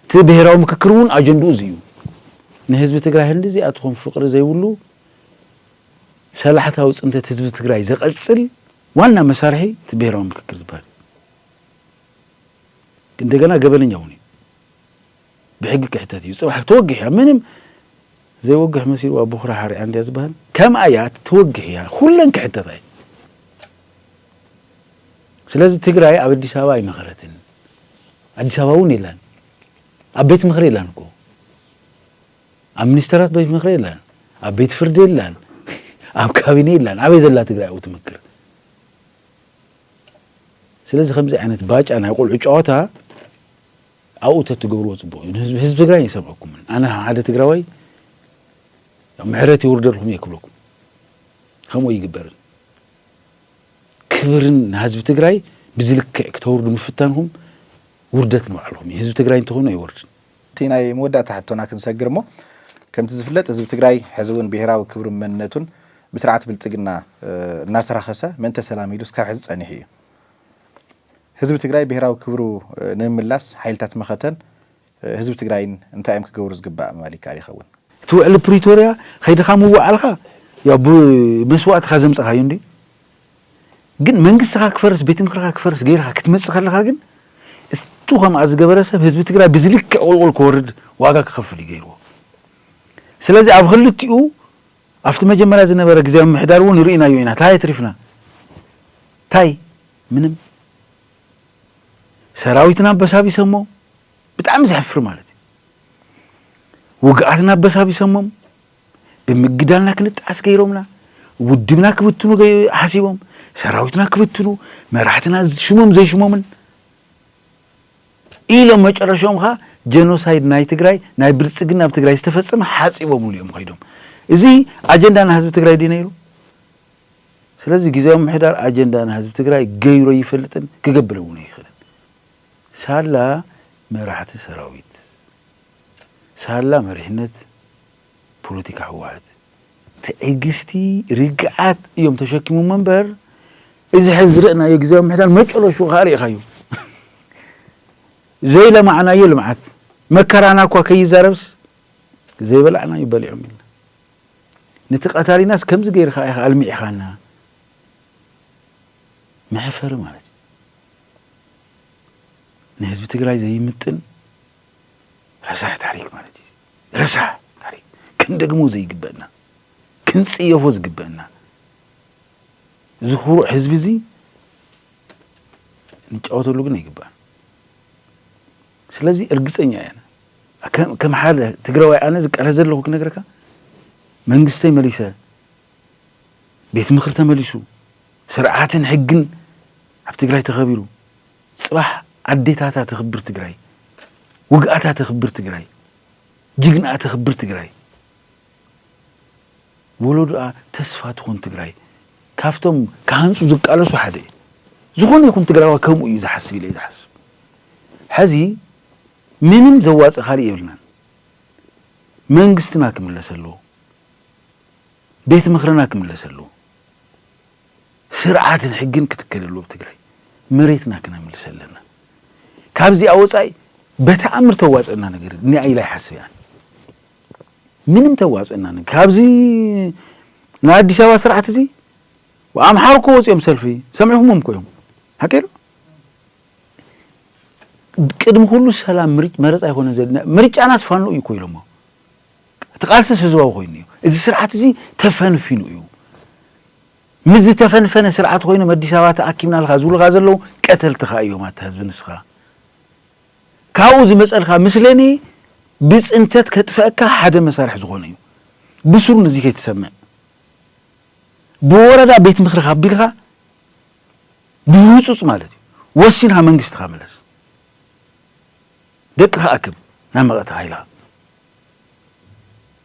እቲ ብሄራዊ ምክክር እውን ኣጀንድኡ እዚ እዩ። ንህዝቢ ትግራይ ህንድዚ ኣትኹም ፍቕሪ ዘይብሉ ሰላሕታዊ ፅንተት ህዝቢ ትግራይ ዘቐፅል ዋና መሳርሒ እቲ ብሄራዊ ምክክር ዝበሃል እዩ። እንደገና ገበነኛ እውን እዩ። ብሕጊ ክሕተት እዩ ጽባሕ ተወግሕ እያ ምንም ዘይወግሕ መሲልዋ ቦኽራ ሓሪያ እንድያ ዝበሃል ከምኣ እያ ተወግሕ እያ ኩለን ክሕተታ እዩ ስለዚ ትግራይ ኣብ ኣዲስ ኣበባ ኣይመኸረትን ኣዲስ ኣበባ እውን የላን ኣብ ቤት ምክሪ የላን እኮ ኣብ ሚኒስተራት ቤት ምክሪ የላን ኣብ ቤት ፍርዲ የላን ኣብ ካቢነ የላን ኣበይ ዘላ ትግራይ ኣብኡ ትምክር ስለዚ ከምዚ ዓይነት ባጫ ናይ ቆልዑ ጨዋታ ኣብኡ ተትገብርዎ ፅቡቅ እዩ ንህዝቢ ህዝቢ ትግራይ ይሰምዐኩምን ኣነ ከም ሓደ ትግራዋይ ምሕረት ይውርደልኩም እየ ክብለኩም ከምኡ ይግበርን ክብርን ንህዝቢ ትግራይ ብዝልክዕ ክተውርዱ ምፍታንኩም ውርደት ንባዕልኩም እዩ ህዝቢ ትግራይ እንተኾይኑ ኣይወርድን እቲ ናይ መወዳእታ ሕቶና ክንሰግር እሞ ከምቲ ዝፍለጥ ህዝቢ ትግራይ ሕዚ እውን ብሄራዊ ክብሩን መንነቱን ብስርዓት ብልፅግና እናተራኸሰ ምእንተ ሰላም ኢሉስ ካብ ሕዚ ፀኒሑ እዩ ህዝቢ ትግራይ ብሄራዊ ክብሩ ንምምላስ ሓይልታት መኸተን ህዝቢ ትግራይን እንታይ እዮም ክገብሩ ዝግባእ ምባል ይከኣል ይኸውን? እቲ ውዕሊ ፕሪቶርያ ከይድኻ ምውዓልካ ያው ብመስዋእትኻ ዘምፀኻዮ እንድዩ ግን መንግስትኻ ክፈርስ ቤት ምክርኻ ክፈርስ ገይርኻ ክትመፅእ ከለኻ ግን እቱ ከምኣ ዝገበረ ሰብ ህዝቢ ትግራይ ብዝልክዕ ቁልቁል ክወርድ ዋጋ ክኸፍል እዩ ገይርዎ ስለዚ ኣብ ክልቲኡ ኣብቲ መጀመርያ ዝነበረ ግዝያዊ ምምሕዳር እውን ርኢናዮ ኢና። ታይ ኣትሪፍና? ታይ? ምንም። ሰራዊትና ኣበሳቢሰሞ፣ ብጣዕሚ ዘሕፍር ማለት እዩ። ውግኣትና ኣበሳቢሰሞም፣ ብምግዳልና ክንጠዓስ ገይሮምና፣ ውድብና ክብትኑ ሓሲቦም፣ ሰራዊትና ክብትኑ፣ መራሕትና ሽሞም ዘይሽሞምን፣ ኢሎም መጨረሽኦም ኸኣ ጀኖሳይድ ናይ ትግራይ ናይ ብልጽግና ኣብ ትግራይ ዝተፈጸመ ሓጺቦምሉ እዮም ከይዶም። እዚ ኣጀንዳ ናይ ህዝቢ ትግራይ ድዩ ነይሩ? ስለዚ ግዝያዊ ምምሕዳር ኣጀንዳ ናይ ህዝቢ ትግራይ ገይሩ ኣይፈልጥን ክገብር እውን ኣይኽእልን። ሳላ መራሕቲ ሰራዊት፣ ሳላ መሪሕነት፣ ፖለቲካ ህወሓት ትዕግስቲ ርግኣት እዮም ተሸኪሞሞ እምበር እዚ ሕዚ ዝረእናዮ ግዝያዊ ምምሕዳር መጨረሽኡ ከኣ ርኢኻዮ ዘይለማዕናዮ ልምዓት መከራና እኳ ከይዛረብስ ዘይበላዕናዩ በሊዖም ኢልና ነቲ ቀታሊናስ ከምዚ ገይርካ ኢኻ ኣልሚዕኻና መሕፈሪ ማለት እዩ ንህዝቢ ትግራይ ዘይምጥን ረሳሕ ታሪክ ማለት እዩ። ረሳሕ ታሪክ ክንደግሞ ዘይግበእና ክንፅየፎ ዝግበእና እዚ ኩሩዕ ህዝቢ እዚ ንጫወተሉ ግን ኣይግባእን። ስለዚ እርግፀኛ እየ ከም ሓደ ትግራዋይ ኣነ ዝቃለስ ዘለኹ ክነግረካ መንግስተይ መሊሰ ቤት ምኽሪ ተመሊሱ ስርዓትን ሕግን ኣብ ትግራይ ተኸቢሩ ፅባሕ ኣዴታታ ተክብር ትግራይ ውግኣታ ተክብር ትግራይ ጅግንኣ ተክብር ትግራይ ወሎዶኣ ተስፋ ትኩን ትግራይ ካብቶም ክሃንፁ ዝቃለሱ ሓደ እየ ዝኮነ ይኩን ትግራዋይ ከምኡ እዩ ዝሓስብ ኢለ እየ ዝሓስብ ሐዚ ምንም ዘዋፅእ ካሊእ የብልናን መንግስትና ክምለስ ኣለዎ ቤት ምክርና ክምለስ ኣለዎ። ስርዓትን ሕግን ክትከለሉ ኣብ ትግራይ መሬትና ክነምልሰ ኣለና ካብዚኣ ወፃኢ በተኣምር ተዋፅእና ነገር እኒኣ ኢላ ይሓስብ እያ ምንም ተዋፅእና ነገር ካብዚ ናይ ኣዲስ ኣበባ ስርዓት እዚ ኣምሓሩ እኮ ወፂኦም ሰልፊ ሰሚዕኹሞም እኮ እዮም ሓቂ ዶ ቅድሚ ኩሉ ሰላም መረፃ ኣይኮነን ዘድና ምርጫናስ ፋኖ እዩ እኮ ኢሎሞ እቲ ቃልስስ ህዝባዊ ኮይኑ እዩ። እዚ ስርዓት እዚ ተፈንፊኑ እዩ። ምስ ዝተፈንፈነ ስርዓት ኮይኖም ኣዲስ ኣበባ ተኣኪብናልካ ዝብሉኻ ዘለዉ ቀተልትኻ እዮም ኣታ ህዝቢ ንስኻ ካብኡ ዝመፀልካ ምስለኔ ብፅንተት ከጥፈእካ ሓደ መሳርሒ ዝኾነ እዩ። ብስሩ ንዚ ከይትሰምዕ ብወረዳ ቤት ምክሪ ካቢልካ ብህፁፅ ማለት እዩ ወሲንካ መንግስትኻ ምለስ። ደቅኻ ኣክብ፣ ናብ መቐት ኃይልኻ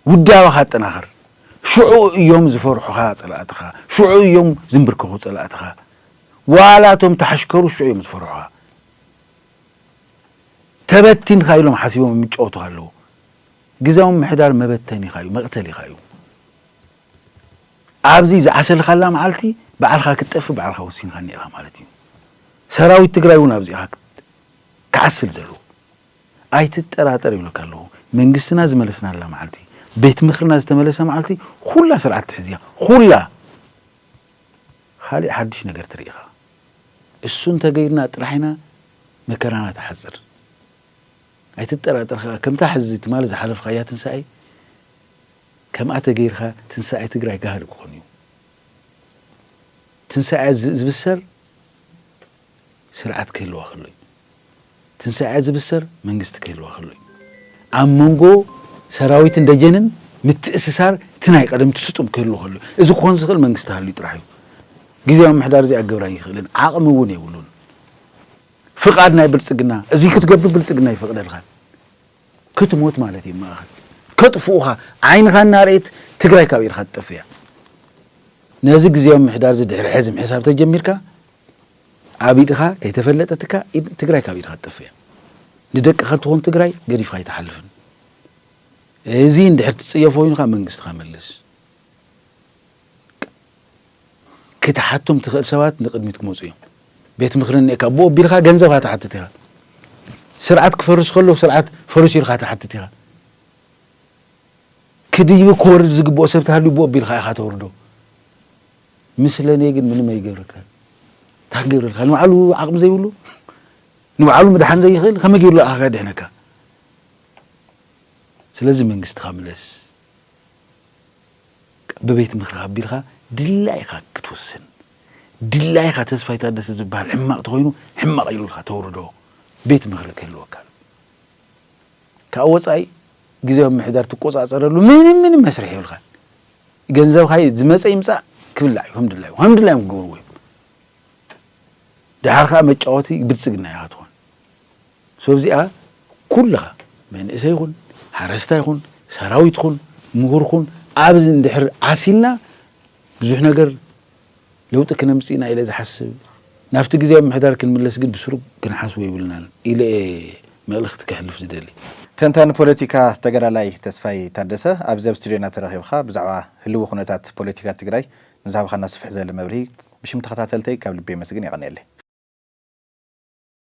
ውዳበኻ ኣጠናኽር፣ ሽዑ እዮም ዝፈርሑኻ ጸላእትኻ፣ ሽዑ እዮም ዝምብርከኹ ጸላእትኻ፣ ዋላ እቶም ተሓሽከሩ ሽዑ እዮም ዝፈርሑኻ፣ ተበቲንካ ኢሎም ሓሲቦም እዮም ይጫወቱኻ ኣለዉ፣ ግዝያዊ ምምሕዳር መበተኒኻ እዩ፣ መቕተሊኻ እዩ፣ ኣብዚ ዝዓሰልካላ መዓልቲ ባዕልኻ ክትጠፍእ ባዕልኻ ወሲንካ እኒኤኻ ማለት እዩ፣ ሰራዊት ትግራይ እውን ኣብዚ ኢኻ ክዓስል ዘለዎ ኣይትጠራጠር ይብለካ ኣለኹ መንግስትና ዝመለስናላ መዓልቲ ቤት ምኽርና ዝተመለሰ መዓልቲ ኹላ ስርዓት ትሕዝ እያ ኹላ ኻሊእ ሓዱሽ ነገር ትርኢ ኢኻ እሱ እንተገይርና ጥራሕ ኢና መከራና ትሓፅር ኣይትጠራጠር ኸዓ ከምታ ሕዚ ትማሊ ዝሓለፍኻያ ትንሳኤ ከምኣ ተገይርካ ትንሳኤ ትግራይ ጋህዲ ክኾን እዩ ትንሳኤ ዝብሰር ስርዓት ክህልዋ ከሎ እዩ። ትንሳኤኣ ዝብሰር መንግስቲ ክህልዋ ከሎ እዩ። ኣብ መንጎ ሰራዊትን ደጀንን ምትእስሳር እቲ ናይ ቀደም እቲ ስጡም ክህሉ ከሎ እዩ። እዚ ክኾን ዝኽእል መንግስቲ ሃልዩ ጥራሕ እዩ። ግዜያዊ ምሕዳር እዚኣ ክገብር ኣይኽእልን፣ ዓቕሚ እውን የብሉን። ፍቓድ ናይ ብልጽግና እዚ ክትገብር ብልጽግና ኣይፈቕደልኻን። ክትሞት ማለት እዩ ማእኸል ከጥፍኡኻ ዓይንኻ እናርኤት ትግራይ ካብ ኢድኻ ትጠፍእ እያ። ነዚ ግዜያዊ ምሕዳር እዚ ድሕሪ ሕዚ ምሕሳብ ተጀሚርካ ኣብ ኢድኻ ከይተፈለጠትካ ትግራይ ካብ ኢድኻ ትጠፍእ እያ። ንደቅኻ እትኾን ትግራይ ገዲፍኻ ኣይትሓልፍን። እዚ እንድሕር ትፅየፎ ኮይኑ ካብ መንግስትኻ መልስ። ክትሓቶም ትኽእል ሰባት ንቅድሚት ክመፁ እዮም። ቤት ምክሪ እኒኤካ ብኡ ኣቢልካ ገንዘብ ካ ትሓትት ኢኻ። ስርዓት ክፈርስ ከሎ ስርዓት ፈርሱ ኢልካ ትሓትት ኢኻ። ክድይብ ክወርድ ዝግብኦ ሰብ ተሃልዩ ብኡ ኣቢልካ ኢኻ ተውርዶ። ምስለኔ ግን ምንም ኣይገብረካን እንታይ ክገብረልካ ንባዕሉ ዓቕሚ ዘይብሉ ንባዕሉ ምድሓን ዘይኽእል ከመይ ገይሩ ንዓኻ ከድሕነካ ስለዚ መንግስትኻ ምለስ ብቤት ምክሪ ኣቢልካ ድላይካ ክትውስን ድላይካ ተስፋይ ታደሰ ዝበሃል ሕማቕ ተኾይኑ ሕማቕ ኢሉልካ ተውርዶ ቤት ምክሪ ክህልወካ ካብ ወጻኢ ግዝያዊ ምምሕዳር ትቆጻጸረሉ ምንም ምንም መስርሕ የብልካን። ገንዘብካ እዩ ዝመጸ ይምጻእ ክብላዕ እዩ ከም ድላዩ ከም ድላዮም ክገብርዎ እዮም። ድሓር ከኣ መጫወቲ ብልጽግና ኢኻ ትኾን። ሰብ እዚኣ ኩልኻ መንእሰይ ኩን ሓረስታይ ኩን ሰራዊት ኩን ምሁር ኩን ኣብዚ እንድሕር ዓሲልና ብዙሕ ነገር ለውጢ ክነምፅእ ኢና ኢለ ዝሓስብ። ናብቲ ግዝያዊ ምምሕዳር ክንምለስ ግን ብስሩ ክንሓስቦ የብልናን ኢለ እየ መልእኽቲ ከሕልፍ ዝደሊ። ተንታኒ ፖለቲካ ተጋዳላይ ተስፋይ ታደሰ ኣብዚ ኣብ ስቱድዮና ተረኺብኻ ብዛዕባ ህልዊ ኩነታት ፖለቲካ ትግራይ ንዝሃብኻና ስፍሕ ዝበለ መብርሂ ብሽም ተኸታተልተይ ካብ ልቢ የመስግን የቐንየለይ።